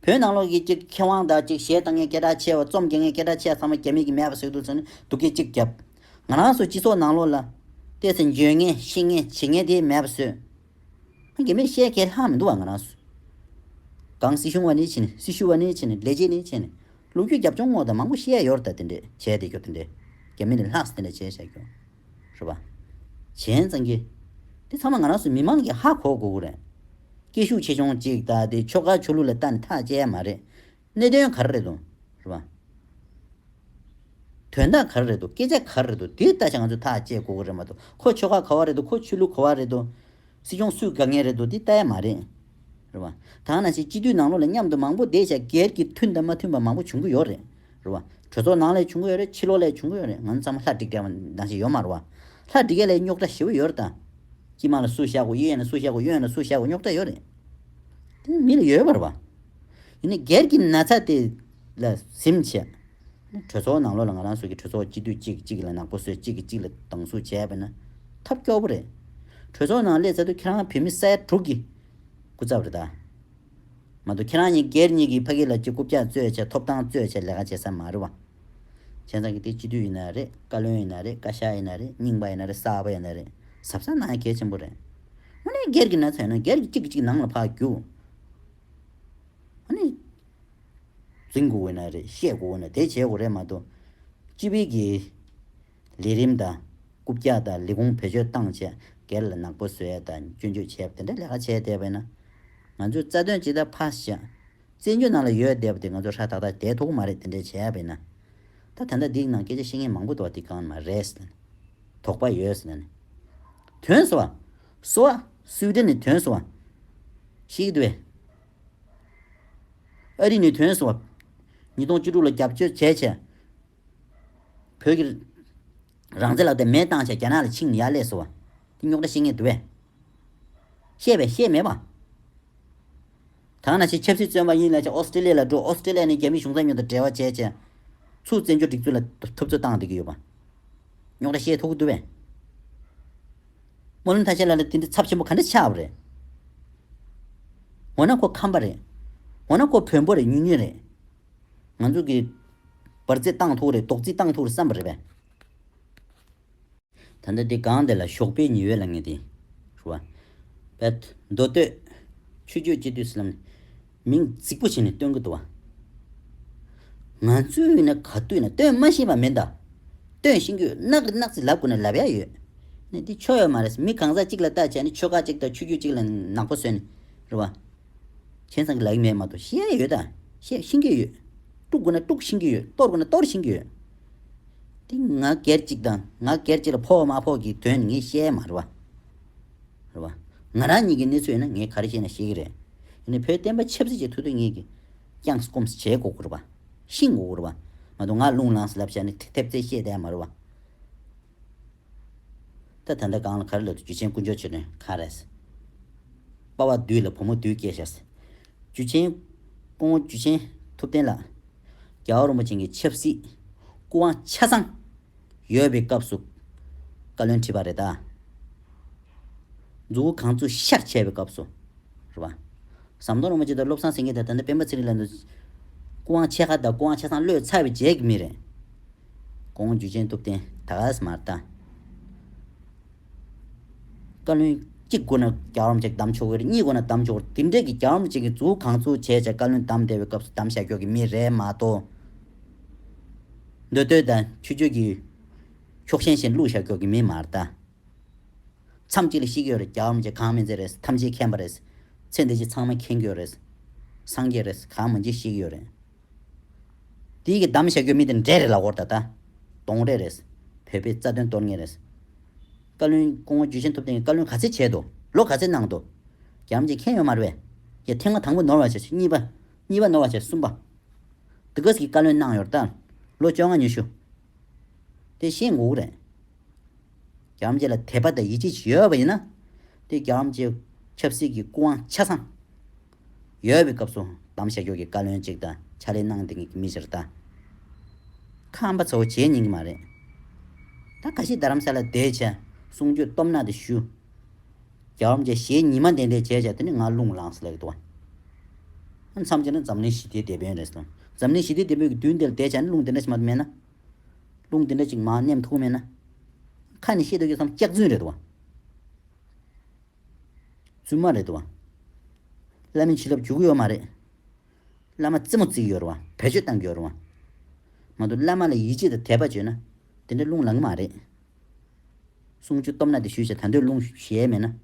བོད་ནང་ལོགས་ཀྱི་ཅིག་མཁས་དབང་དག་ཅིག་གཞས་བཏང་མཁན་སྐད་གྲགས་ཆེ་བ་རྩོམ་རྒྱག་མཁན་སྐད་གྲགས་ཆེ་བ་ཚང་མ་རྒྱ་མི་གི་མེད་པ་བཟོས་འདུག་ཟེར་ནས་སྡུག་སྐད་ཅིག་བརྒྱབ། ང་རང་སོགས་སྤྱི་ཚོགས་ནང་ལོགས་ལ། བལྟས་ཚེ་འཇོན་ངེས་ཤེས་ངེས་བྱེད་ངེས་དེ་མེད་པ་བཟོས། དགེ་མི་ཤེས་ཁས་ལྷག་མི་འདུག་བ་ང་རང་སུ། གང་སྲི་ཞུ་བ་ནས་ཕྱིན་སྲི་ཞུ་བ་ནས་ཕྱིན་ལས་བྱེད་ནས་ཕྱིན། ལུག་ཁྱུ་རྒྱབ་ལྗོངས་སྔོག་དང་མང་པོ་བཤད་ཡོར་ད་དེ་འདྲས་བྱས་དེ་གྱོ་དེ་འདྲས། རྒྱ་མི་ནས་ལྷགས་སྲི་དེ་འདྲས་བྱས་བྱས་གྱོ། རེད་པ། གཞན་ཙང་གི། དེ་ཚང་མ་ང་རང་སུ་མི་མང་གི་ཧ་གོ་གོ་གོ་རེད། སྐད་ཤུགས་ཆེ་ཆུང་ཅིག་ད་དེ་ཆོ་ག་ཆོ་ལུགས་ལ་ལྟ་ནས་ཐག་བཅད་ཡ་མ་རེད། གནད་དོན་ག་རེ་རེད་འདུག་རེད་པ། དོན་དག་ག་རེ་རེད་འདུག་སྐད་ཆ་ག་རེ་རེད་འདུག་དེའི་ལྟ་བྱ་ང་ཚོས་ཐག་བཅད་དགོས་གི་རེད་མ་གཏོགས་ཁོ་ཆོལ་ཁ་ག་བ་རེད་འདུག་ཁོ་ཆོས་ལུགས་ག་བ་རེད་འདུག། སྲིད་སྐྱོང་སུས་དགའ་ངེས་རེད་འདུག་འདི་ལྟ་ཡ་མ་རེད། རེད་པ། དག་ན་ཞིག་སྤྱི་འཐུས་ནང་ལོག་ལ་མཉམ་དུ་མང་པོ་བསྡད་བཞག་སྒེར་གྱི་མཐུན་དང་མ་མཐུན་པ་མང་པོ་བྱུང་གི་ཡོད་རེད། རེད་པ། གྲོས་ཚོགས་ནང་ལས་བྱུང་གི་ཡོད་རེད་ཕྱི་ལོག་ལས་བྱུང་གི་ཡོད་རེད་ང་ཚོ་ཚང་མ་ལྷ་འདྲེ་འགས་པ་འདང་ཞིག་ཡོད་མ་རེད་བ། ལྷ་འདྲེ་འགས་ལས་རྙོག་དྲ་ཞེ་བོ་ཡོད་རེད་ད། སྤྱི་དམངས་ལ་སུ་བཞག་གོ་གཡས་ཡན་ལ་སུ་བཞག་གོ་གཡོན་ལ་སུ་བཞག་གོ་རྙོག་དྲ་ཡོད་རེད། དེ་ནི་མི་ལ་ཡོད་པ་རེད་བ། ཡིན་ནི་སྒེར་གྱི་ན་ཚ་དེ་ལ་གཟིམ་བྱས། གྲོས་ཚོགས་ནང་ལོགས་ལ་ང་རང་སོགས་ཀྱི་གྲོས་ཚོགས་སྤྱི་འཐུས་གཅིག་གིས་གཅིག་གི་ལ་ནག་པོ་བཟོས་གཅིག་གིས་གཅིག་ལ་སྡང་ཟུག་བྱས་པ་ན་ཐབས་སྐྱོ་པོ་རེད། གྲོས་ཚོགས་ནང་སླེབས་ཚར་དུས་ཁྱེད་རང་བོད་མི་སེར་དྲུག་གི་སྐུ་ཚབ་རེད་ད། མ་གཏོགས་ཁྱེད་རང་གཉིས་སྒེར་གཉིས་ཀྱིས་ཕ་གི་ལ་སྤྱི་རྐུབ་བཀྱག་རྩོད་བྱས་ཐོབ་ཐང་རྩོད་བྱས་ལས་ཀ་བྱེད་ས་མ་རེད་བ། ཁྱེད་རང་གི་དེ་སྤྱི་འཐུས་ཡིན་ན་རེད་བཀའ་བློན་ཡིན་ན་རེད་བཀའ་ཤག་ཡིན་ན་རེད་རྙིང་པ་ཡིན་ན་རེད་གསར་པ་ཡིན་ན་རེད་ཟབ་ས་ན་གལ་ཆེན་པོ་རེད། དངོས་གནས་སྒེར་གྱི་ན་ཚ་ཡོད་ན་སྒེར་གྱིས་གཅིག་གིས་གཅིག་ནང་ལ་འཕགས་རྒྱུ། འཛིན་དགོས་འོས་ན་རེད་བཤད་དགོས་འོས་ན་དེ་བྱེད་དགོས་རེད་མ་གཏོགས། སྤྱི་བེད་ཀྱི་ལས་རིམ་དང། རྐུབ་བཀྱག་དང་ལས་ཁུངས་བེད་སྤྱོད་བཏང་བཅས་སྒེར་ལ་ནག་པོ་བཟོས་དང་སྐྱོན་བརྗོད་བྱས་པ་དེ་འདྲ་ལས་ཀ་བྱས་བསྡད་པས་ན། ང་ཚོས་རྩ་དོན་སྤྱི་ལྟར་ཕར་བཞག། བཙན་བྱོལ་ནང་ལ་ཡོད་བསྡད་པ་དེ་ང་ཚོ་ཧྲ་ཐག་ཐག་བསྡད་ཐུབ་ཀྱི་མ་རེད་དེ་འདྲ་བྱས་པས་ན། ད་ད་ལྟ་འདིའི་ནང་སྐད་ཆ་བཤད་མཁན་མང་པོ་འདུག་བ་དེ་གང་ནས་མ་རེད་ཟེར་ན། དོགས་པ་ཡོད་ཟེར་ན། དོན་ཟེར་བ། གསོ་བ། སུའི་ཏི་ནི་དོན་གསོ་བ། ཤིག་ཏུ་བས། ཨ་རི་ནི་དོན་གསོ་བ། ཉིས་སྟོང་བཅུ་དྲུག་ལ་རྒྱབ་སྐྱོར་བྱས་བྱས། བོད་ཀྱི། རང་བཙན་ལག་དེབ་མེད་བཏང་བྱས་རྒྱ་ནག་ལ་ཕྱིང་ནི་ཡག་ལས་གསོ་བ། ཏི་རྙོག་དྲ་ཤེས་ངེས་དུ་བས། ཤེས་བས་ཤེས་མེད་པ། ཐང་ན་ཆེས་ཆབ་སྲིད་བཙོན་པ་ཡིན་ལ་ཆེས་ཨོ་སི་ཀྲི་ལེ་ལ་འགྲོ་ཨོ་སི་ཀྲི་ལེ་ནི་རྒྱ་མིའི་གཞུང་ཚབ་ཉོ་དང་འབྲེལ་བ་བྱས་རྗེས། ཚུ་བཙན་བྱོལ་སྒྲིག་འཛུགས་ལ་ཐུབ་ཚོད་བཏང་བསྡད་ཀྱི་ཡོད་པ། རྙོག་དྲ་ཤེས་ཐུབ་ཀྱི་འདུག་པས། སྨོན་ལམ་ཐང་ཆེན་ལ་ལ་དེ་འདྲའི་ཚབ་ཆེན་པོ་ག་འདྲ་ཆགས་པ་རེད། འོ་ན་ཁོ་ཁམས་པ་རེད། འོ་ན་ཁོ་བོན་པོ་རེད་ཉུང་ཉུང་རེད། ང་ཚོ་གིས། འབར་རྫས་བཏང་ཐུག་རེད་རྡོག་རྫིས་བཏང་ཐུག་རེད་བསམ་པ་རེད་པས། ད་ལྟ་དེ་གང་དེ་ལ་ཞོགས་པའི་ཉི་འོད་ལ་ངེས་ཏེ། ཧྲུལ་བ། བལ། མདོ་སྟོད། ཆུ་སྐྱོད་སྤྱི་བཏུལ་སྲིད་ལམ་ནི། མིང་རྫིག་པོ་ཞིག་ནས་སྟོན་གྱི་འདུག་བ། ང་ཚོས་ནི་ག་དུས་ན་སྟོན་མ་ཤེས་པ་མིན་ད། སྟོན་ཤེས་རྒྱུ་ནག་གི་ནག་ཚིག་ལབ་དགོས་ནས་ལབ་ཡ་ཡོད། ནི་འདི་ཆོ་ཡོད་མ་རེད། མི་གང་ཟག་གཅིག་ལ་བལྟ་བྱས་ནི་ཆོལ་ཁ་གཅིག་དང་ཆོས་བརྒྱུད་གཅིག་ལ་ནག་པོ་བཟོས་ནས། ཧྲུལ་བ། བྱས་ཙང་གི་ལག་གི་མེད་མ་གཏོགས་ཤེས་ཡ་ཡོད་ད། ཤེས་ཤིང་གི་ཡོད། དཀྲུག་དགོས་ན་དཀྲུག་ཤིང་གི་ཡོད་གཏོར་དགོས་ན་གཏོར་ཤིང་གི་ཡོད། ཏིང་ངག་སྐད་ཅིག་དང་ངག་སྐད་ཅིག་ལ་ཕོག་མ་ཕོག་གི་དོན་ངས་བཤད་མ་རུང་བ། ང་རང་ཉིད་ཀྱི་གནས་ཚུལ་ཡིན་ན་ངས་ག་རེ་བཤད་ན་ཤེས་ཀྱི་རེད། ཡིན་ནའི་བོད་བསྟན་པ་ཆབ་སྲིད་ཅེས་ཐུགས་དོན་ངེས་ཀྱི་བསྐྱངས་སུ་སྐོམས་སུ་བྱས་གོ་དགོས་རེད། ཤིང་གོ་དགོས་རེད། མ་གཏོགས་ང་རླུང་ལངས་སུ་ལབ་བྱ་ནི་ཐེབས་རྩལ་ཤེས་ལྡན་མ་རུང་བ། ད་ད་འདྲ་སྒང་ལ་ག་རེ་ལབ་དུས་རྒྱུ་ཆེན་ཀུན་སྦྱོར་བྱེད་དོན་གང་རེད། དཔའ་བ་བདུད་ལ་བུ་མོ་བདུད་སྐྱེས་ཤག། འཇུ་ཆེན། སྐུ་ངོ་འཇུ་ཆེན་ཐུབ་བསྟན་ལགས། རྒྱ་བ་རིན་པོ་ཆེན་གྱི་ཆབ་སྲིད་སྐུ་དབང་ཆ་ཚང་ཡོད་པའི་སྐབས་སུ་བཀའ་བློན་ཁྲི་པ་རེད་ད། འཛུགས་གང་ཚུགས་ཤར་བྱས་པའི་སྐབས་སུ་རེད་པ། ཟམ་གདོང་རིན་པོ་ཆེ་དང་བློ་བཟང་སེང་གེ་དང་ད་ལྟ་སྤེན་པ་ཚེ་རིང་ལགས་འདུག་སྐུ་དབང་ཆེ་ཁ་དང་སྐུ་དབང་ཆ་ཚང་བློས་ཚར་བའི་རྗེས་ཀྱི་མི་རེད། སྐུ་ངོ་འཇུ་ཆེན་ཐུབ་བསྟན་ད་ག་ས་མར་ལྟ། བཀའ་བློན་གཅིག་དགོས་ན་རྒྱ་གྲམ་གཅིག་གདམ་ཆོག་གི་རེད་གཉིས་དགོས་ན་གདམ་ཆོག་གི་རེད་དེ་འདྲས་ཀྱི་རྒྱ་གྲམ་གཅིག་གི་འཛུགས་གང་འཛུགས་བྱས་བྱས་བཀའ་བློན་གདམ་བདེ་བའི་སྐབས་སུ་གདམ་བྱ་ཆོག་གི་མི་རེད་མ་གཏོགས། འདོད་འདོད་དང་ཆོས་ཆོས་ཀྱི། ཕྱོགས་ཞེན་ཞེན་བླུགས་བྱ་ཆོག་གི་མི་མ་རེད་ད། མཚམས་གཅིག་ལ་ཤི་གི་ཡོད་རེད་རྒྱ་གྲམ་གཅིག་གང་མི་མཛད་རེད་ཐམས་ཅད་མཁྱེན་པ་རེད། ཚེ་འདི་ཕྱི་ཚང་མ་མཁྱེན་གི་ཡོད་རེད། སངས་རྒྱས་རེད་གང་མི་མཇེད་ཤི་གི་ཡོད་རེད། དེ་ཡི་གི་གདམ་བྱ་རྒྱུ་མི་དེ་འདྲས་རེད་ལ་དབོར་ད་ད་དོང་རེད་རེད། བོད་པའི་རྩ་དོན་གཏོར་ངེས་རེད། བཀའ་བློན་སྐུ་ངོ་འཇུ་ཆེན་ཐུབ་བསྟན་གྱིས་བཀའ་བློན་ག་ཚད་བྱས་འདུག་ལོ་ག་ཚད་གནང་འདུག་རྒྱ་མི་ཅིག་མཁྱེན་ཡོད་མ་རེད་བས། ཡ་ཐེངས་མ་དང་པོ་ནོར་བ་བྱས་གཉིས་པ། གཉིས་པ་ནོར་བ་བྱས་གསུམ་པ། དི་ག་སི་གིས་བཀའ་བློན་གནང་ཡོད་རེད་ད་ལོ་བཅོ་ལྔ་ཉི་ཤུ། དེ་ཤེས་འགུག་རེད། རྒྱ་མི་ཅིག་ལ་དད་པ་དང་ཡིད་ཆེས་ཡོད་པ་ཡིན་ན། དེ་རྒྱ་མི་ཅིག་ཆབ་སྲིད་ཀྱི་སྐུ་དབང་ཆ་ཚང། ཡོད་པའི་སྐབས་སུ་གཏམ་བཤད་ཞོར་གྱི་བཀའ་བློན་གཅིག་དང་ཕྱག་ལས་གནང་དེ་ངས་མི་གཞིར་ལྟ། ཁམས་པ་ཚོ་བོ་བྱེད་ཉན་གྱི་མ་རེད། ད་ག་ཞིག་རྡ་རམ་ས་ལ་བསྡད་བྱས་གསུང་ཆོས་སྟོབས་ནག་དེ་ཞུ། རྒྱ་བོམ་བཅས་ཞེ་གཉིས་མ་འདེད་འདེད་བྱས་བྱས་དེ་ནས་ང་རླུང་ལངས་སླེ་གི་འདུག། མཚམས་ཆད་ན་འཛམ་གླིང་ཞི་བདེའི་སྡེ་དཔོན་རེད་སོང། འཛམ་གླིང་ཞི་བདེའི་སྡེ་དཔོན་གྱི་དུས་འདི་ལ་བསྡད་བྱས་ན་རླུང་དེ་འདྲ་ཞིག་མ་མེད་ན། རླུང་དེ་འདྲ་ཞིག་མ་མཉམ་ཐུག་མེད་ན། ཁ་ནས་བཤད་འདོད་ཀྱི་སམ་སྐྱག་རྫུན་རེད་འདུག། བཙུན་མ་རེད་དོ། བླ་མའི་བྱིན་རླབས་བྱུག་གི་ཡོད་མ་རེད། བླ་མ་རྩེད་མོ་རྩེ་གི་ཡོད་རེད་བ། བེད་སྤྱོད་བཏང་གི་ཡོད་རེད་བ། མ་གཏོགས་བླ་མ་ལ་ཡིད་ཆེས་དང་དད་པ་བྱོས་ན། དེ་འདྲ་རླུང་ལང་གི་མ་རེད། གསུང་ཆོས་སྟོབས་ན་དེ་ཞུས་བྱ་ད་འདོད་རླུང་གཞལ་མེད་ན།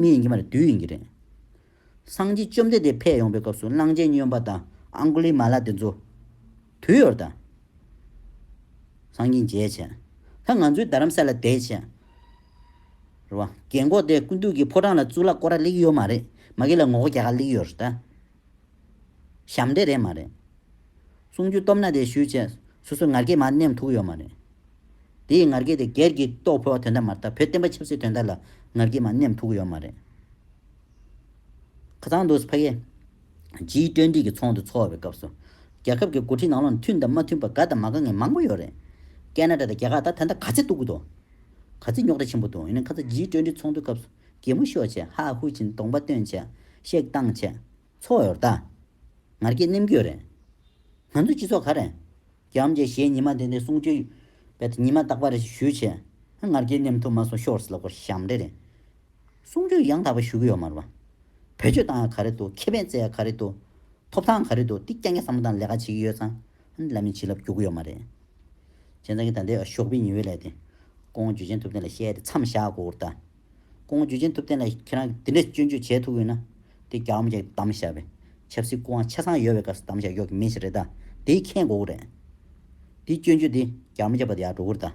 མི་ཡིན་གྱི་མ་རེད་བདུད་ཡིན་གྱི་རེད། སངས་རྒྱས་བཅོམ་ལྡན་འདས་ཕེབས་ཡོང་པའི་སྐབས་སུ་གླང་ཆེན་སྨྱོན་པ་དང་ཨང་ཀུ་ལི་མ་ལ་དེ་ཚོ། དུས་ཡོར་དང། སང་ཉིན་མཇལ་བྱས། ད་ང་ཚོའི་རྡ་རམ་ས་ལ་བསྡད་བྱས། རེད་བ། རྒན་འགོག་དེ་སྐུ་མདུན་གྱི་ཕོ་བྲང་ལ་གཙུག་ལག་སྐོར་ར་གླེགས་ཡོད་མ་རེད་མ་གི་ལ་ངོ་ག་ག་གླེགས་ཡོད་རེད་ད། ཞབས་འདྲེ་རེད་མ་རེད། གསུང་རྒྱུ་སྟོབས་ན་དེ་ཞུས་བྱས་སོ་སོའི་ངར་སྐད་མ་ནེམ་ཐུག་ཡོད་མ་རེད། དེའི་ངར་སྐད་དེ་སྒེར་གྱི་རྟོགས་ཕོད་བ་དོན་དག་མ་རེད་ད་བོད་བསྟན་པ་ཆབ་སྲིད་དོན་དག་ལ་ངར་སྐད་མ་ནེམ་ཐུག་ཡོད་མ་རེད། ཁ་ཚང་འདུག་ཕ་གི། སྤྱིའི་བཀྲ་འདྲིས་ཀྱི་ཚོགས་འདུ་འཚོགས་པའི་སྐབས་སུ། རྒྱལ་ཁབ་ཀྱི་འགོ་ཁྲིད་ནང་ལོག་ནས་མཐུན་དང་མ་མཐུན་པ་དགའ་དང་མ་དགའ་ངན་མང་པོ་ཡོད་རེད། ཀེ་ན་ཏྲ་དང་རྒྱ་གར་ད་ཐེངས་ད་ག་ཚད་སྟུག་པོ་འདུག། ག་ཚད་རྙོག་དྲ་ཆེན་པོ་འདུག་ཡིན་ན་ཁ་ཚ་སྤྱིའི་བཀྲ་འདྲིས་ཚོགས་འདུའི་སྐབས་སུ་གད་མོ་ཤོར་བྱས་ཧ་ཧུ་ཅིན་གདོང་པ་སྟོན་བྱས། གཤེགས་བཏང་བྱས། ཚོགས་ཡོར་ད། ངར་སྐད་ནེམ་སྐྱོད་རེད། ང་ཚོའི་སྤྱི་ཚོགས་ག་རེད། རྒྱ་འམ་རྒྱ་གཞས་ཉི་མ་དེ་འདི་གསུང་ཆོས། བལ་ད་ཉི་མ་རྟག་པ་རེད་ཞུས་བྱས། ངར་སྐད་ནེམ་ཐུབ་མ་སོང་ཤོར་སི་ལ་སྐོར་ཞམ་འདྲེ་རེད། གསུང་ཆོས་ཡང་དག་པ་ཞུ་གི་ཡོད་མ་རེད་པ། བོད་ཆོས་དང་ཡང་ག་རེད་དོ་ཁེ་ཕན་བཙལ་ཡང་ག་རེད་དོ། ཐོབ་ཐང་ག་རེད་དོ་འདི་སྐྱ་ངས་བསམ་བློ་དང་ལས་ཀ་བྱེད་ཀྱི་ཡོད་ཙང་བླ་མའི་བྱིན་རླབས་རྒྱུག་གི་ཡོད་མ་རེད། བྱས་ཙང་གི་ད་ལྟའི་ཞོགས་པའི་ཉི་འོད་ལས་དེ། ཀོང་བོ་འཇུ་ཆེན་ཐུབ་བསྟན་ལ་བཤད་དེ་མཚམས་བཞག་གོ་བུར་ལྟ། ཀོང་བོ་འཇུ་ཆེན་ཐུབ་བསྟན་ལ་ཁྱེད་རང་གི་འདི་འདྲའི་སྐྱོན་བརྗོད་བྱས་ཐུབ་ཡོད་ན། དེ་རྒྱ་དམ་ཅིག་གདམ་བྱ་བའི། ཆབ་སྲིད་སྐུ་དབང་ཆ་ཚང་ཡོད་པའི་སྐབས་སུ་གདམ་བྱ་ཡོད་ཀྱི་མི་ཞིག་རེད་ད། དེའི་ཁེངས་དགོས་ཀྱི་རེད། དེའི་སྐྱོན་བརྗོད་དེ་རྒྱ་མི་རྒྱ་བོད་དེ་ཡག་འགྲོ་གི་རེད་ད།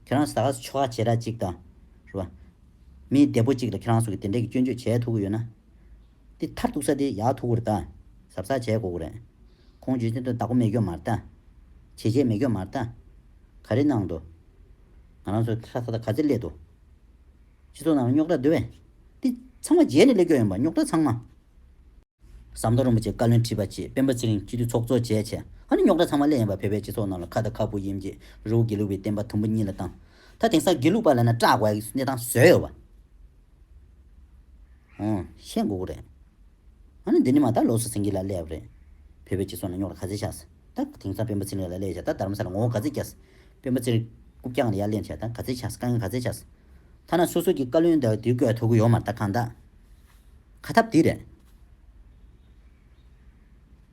ཁྱེད་རང་ཟ་ཁ་ཆོ་ཁ་བྱེད་ར་ཅིག་ད། རེད་པ། མི་བདེ་པོ་ཅིག་ལ་ཁྱེད་རང་ཚོ་གིས་དེ་འདྲས་ཀྱི་སྐྱོན་བརྗོད་བྱས་ཐུབ་ཀྱི་ཡོད་ན། དེ་མཐར་གཏུགས་ས་དེ་ཡག་ཐུབ་ཀྱི་རེད་ད། གཟབ་གཟབ་བྱས་དགོས་ཀྱི་རེད། ཁོང་བརྗོད་བྱེད་དོན་བདག་པོ་མེད་སྐྱོན་མ་རེད་ད། བྱེད་བྱེད་མེད་སྐྱོན་མ་རེད་ད། ག་རེ་གནང་འདུག། ང་རང་ཚོའི་ལྷ་ས་ད་ག་ཚེ་སླེབས་འདུག། སྤྱི་ཚོགས་ནང་རྙོག་དྲ་བརྡོལ་བས། དེ་ཚང་མ་རྗེས་ནས་སླེབས་སྐྱོ་ཡོང་པ་རྙོག་དྲ་ཚང་མ། ཟམ་གདོང་རིན་པོ་ཆེ་བཀའ་བློན་ཁྲི་པ་བཅས་སྤེན་པ་ཚེ་རིང་སྤྱི་འཐུས་ཚོགས་གཙོ་བཅས་བྱས་ཧ་ནི་རྙོག་དྲ་ཚང་མ་སླེབས་ཡོང་པ་བོད་པའི་སྤྱི་ཚོགས་ནང་ལ་ཁ་བརྡ་ཁ་སྤུ་གཡེམ་རྗེས་རི་བོ་དགེ་ལུགས་པའི་བསྟན་པ་དུམ་བུ་གཉིས་ལ་བཏང་ད་དེང་སང་དགེ་ལུགས་པ་ལ་ན་སྐྲག་དགོས་ཀྱི་གནས་སྟངས་བཟོས་ཡོད་པ་ཧོན་ཤེས་དགོས་ཀྱི་རེད་ཧ་ནི་འདི་ནི་མ་ད་ལོགས་སུ་ཟིང་གི་ལ་སླེབས་རེད་བོད་པའི་སྤྱི་ཚོགས་ནང་རྙོག་དྲ་ག་ཚད་ཆགས་སོ། ད་དེང་སང་སྤེན་པ་ཚེ་རིང་ལ་གླས་བྱས་ད་དར་མ་ས་ལ་ངོ་བོ་ག་ཚད་རྒྱས། སྤེན་པ་ཚེ་རིང་སྐུ་བསྐྱངས་ལ་ཡར་གླེང་བྱས་ད་ག་ཚད་ཆགས་དཀའ་ངལ་ག་ཚད་ཆགས། ཐ་ན་སོ་སོ་གི་བཀའ་བློན་དག་དུས་བཀོད་ཐོ་གུ་ཡོག་མར་ད་གང་དག་ག་ཐབས་དེ་རེད།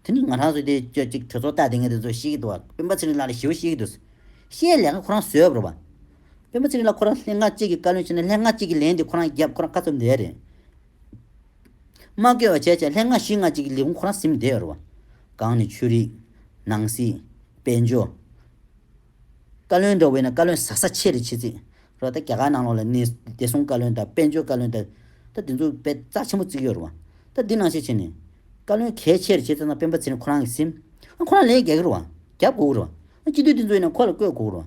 དེ་ནི་ང་རང་ཚོ་དེ་ཁྱོད་ཅིག་གྲོས་ཚོགས་ལྟ་དེ་ངས་དེ་ཚོ་ཤེས་ཀྱི་འདུག་བ་སྤེན་པ་ཚེ་རིང་ལགས་ལ་ཞི་བ་ཤེས་ཀྱི་འདུག་བཤད་ལས་ཀ་ཁོ་རང་བཟོས་ཡོད་པ་རེད་བ། སྤེན་པ་ཚེ་རིང་ལགས་ཁོ་རང་ལྷན་སྔགས་གཅིག་གི་བཀའ་བློན་བྱས་ན་ལྷན་སྔགས་གཅིག་གི་ལན་དེ་ཁོ་རང་རྒྱབ་ཁོ་རང་བཀའ་ཚབ་འདས་རེད། མ་བསྐལ་བ་བྱས་བྱས་ལྷན་སྔ་ཕྱི་སྔ་ཅིག་ལས་ཀུན་ཁོ་རང་སིམ་བདེ་འོར་བ། གང་ནི་ཆོས་རིག། ནང་སྲིད། དཔལ་འབྱོར། བཀའ་བློན་འགྲོ་བས་ན་བཀའ་བློན་ཟག་ཟག་ཆེ་རེ་ཆེ་ཚིག་རོ་ད་རྒྱ་གར་ནང་ལོག་ལ་གནས་བདེ་སྲུང་བཀའ་བློན་དང་དཔལ་འབྱོར་བཀའ་བློན་ད་ད་དེ་ཚོ་བས་རྩ་ཆེན་པོ་བརྩིགས་ཡོར་བ། ད་འདི་ནང་ཤེས་བྱས་ནས། བཀའ་བློན་གལ་ཆེ་རེ་ཆེ་ཚང་ཚང་སྤེན་པ་ཚེ་རིང་ཁོ་རང་གིས་སིམ། ཁོ་རང་ལས་རྒྱག་གི་རུ་བ། རྒྱབ་དགོས་ཀྱི་རུ་བ། སྤྱི་འཐུས་དེ་ཚོ་ཡིན་ན་ཁོ་ལ་བསྐོས་དགོས་ཀྱི་རུ་བ།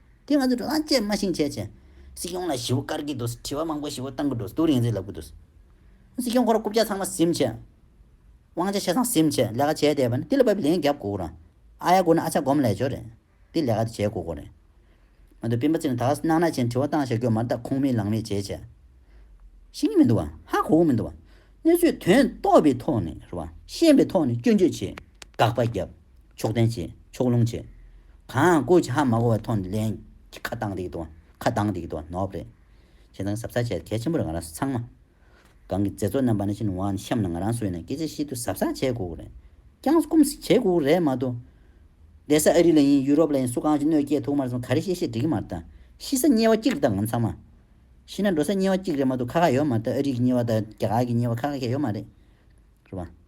དེ་ང་ཚོས་འགྲོ་སྟངས་བཅས་སྨྲ་ཤིང་འཆད་བྱེད། སྲིད་སྐྱོང་ལ་ཞི་བོ་བཀར་གྱི་འདུག་དྲི་བ་མང་པོ་ཞི་བོ་གཏང་གི་འདུག་སྡུག་རིང་ཟིག་ལབ་ཀྱི་འདུག། སྲིད་སྐྱོང་ཁོ་ར་རྐུབ་བཀྱག་ཚང་མ་གཟིམ་ཆེད། དབང་ཆ་ཆེ་སང་གཟིམ་ཆེད་ལས་ཀ་བྱས་བསྡད་པ་ནི་དེ་ལ་བབ་པའི་ལན་བརྒྱབ་དགོས་དགོས་རང། ཨ་ཡ་དགོས་ན་ཨ་ཆ་སྒོམ་ལས་ཆོག་རེད། དེ་ལས་ཀ་དེ་བྱས་དགོས་དགོས་རེད། མ་འདོད་སྤེན་པ་ཚེ་ནི་དྭགས་སུ་སྣང་ན་ཅན་དྲི་བ་བཏང་ཞག་གོས་མར་བཏགས་ཁོང་མིད་ལང་མིད་བྱས་བྱས། ཤེས་ཀྱི་མི་འདུག་བ། ཧ་གོ་གི་མི་འདུག་བ། སྣོད་བཅུད་དོན་རྟོགས་པའི་ཐོག་ནས་རེད་བ། ཤེས་པའི་ཐོག་ནས་སྐྱོན་བརྗོད་བྱས། བཀག་པ་བརྒྱབ། ཕྱོགས་བསྟན་བྱས། ཕྱོགས་ལྷུང་བྱས། གང་སྐུ་ཅི་ཧ་མ་གོ་བ་མཐོང་དུ་ལེན། ཁ་བཏང་འདི་དོ། ཁ་གདངས་འདི་དོ་ནོབ་རེད། བྱས་ཙང་ཟབ་ཚགས་བྱས་གལ་ཆེན་པོ་རེད་ང་རང་ཚང་མ། གང་གི་མཛད་གཙོ་རྣམ་པ་ནས་ཕྱིན་ཝང་ཤམ་ལ་ང་རང་སུ་ཡིན་ན་སྐད་ཆ་བཤད་དུས་ཟབ་ཚགས་བྱས་དགོས་ཀྱི་རེད། རྐྱང་སྐུམ་ཟིག་བྱས་དགོས་ཀྱི་རེད་མ་གཏོགས། བསྡད་ས་ཨ་རི་ལ་ཡིན་ཡུ་རོབ་ལ་ཡིན་སུ་གང་ཞིག་གནོད་སྐྱེལ་ཐུག་མ་སོང་ག་རེ་བཤད་བཤད་འགྲིག་གི་མ་རེད་ད། ཤི་ས་དམྱལ་བ་གཅིག་རེད་ད་ང་ཚང་མ། ཤི་ན་འགྲོ་ས་དམྱལ་བ་གཅིག་རེད་མ་གཏོགས་ཁ་ཁ་ཡོད་མ་རེད་ད་ཨ་རིག་གི་དམྱལ་བ་དང་རྒྱ་གར་གྱི་དམྱལ་བ་ཁ་ཁ་ཁྱད་ཡོད་མ་རེད། རེད་པ།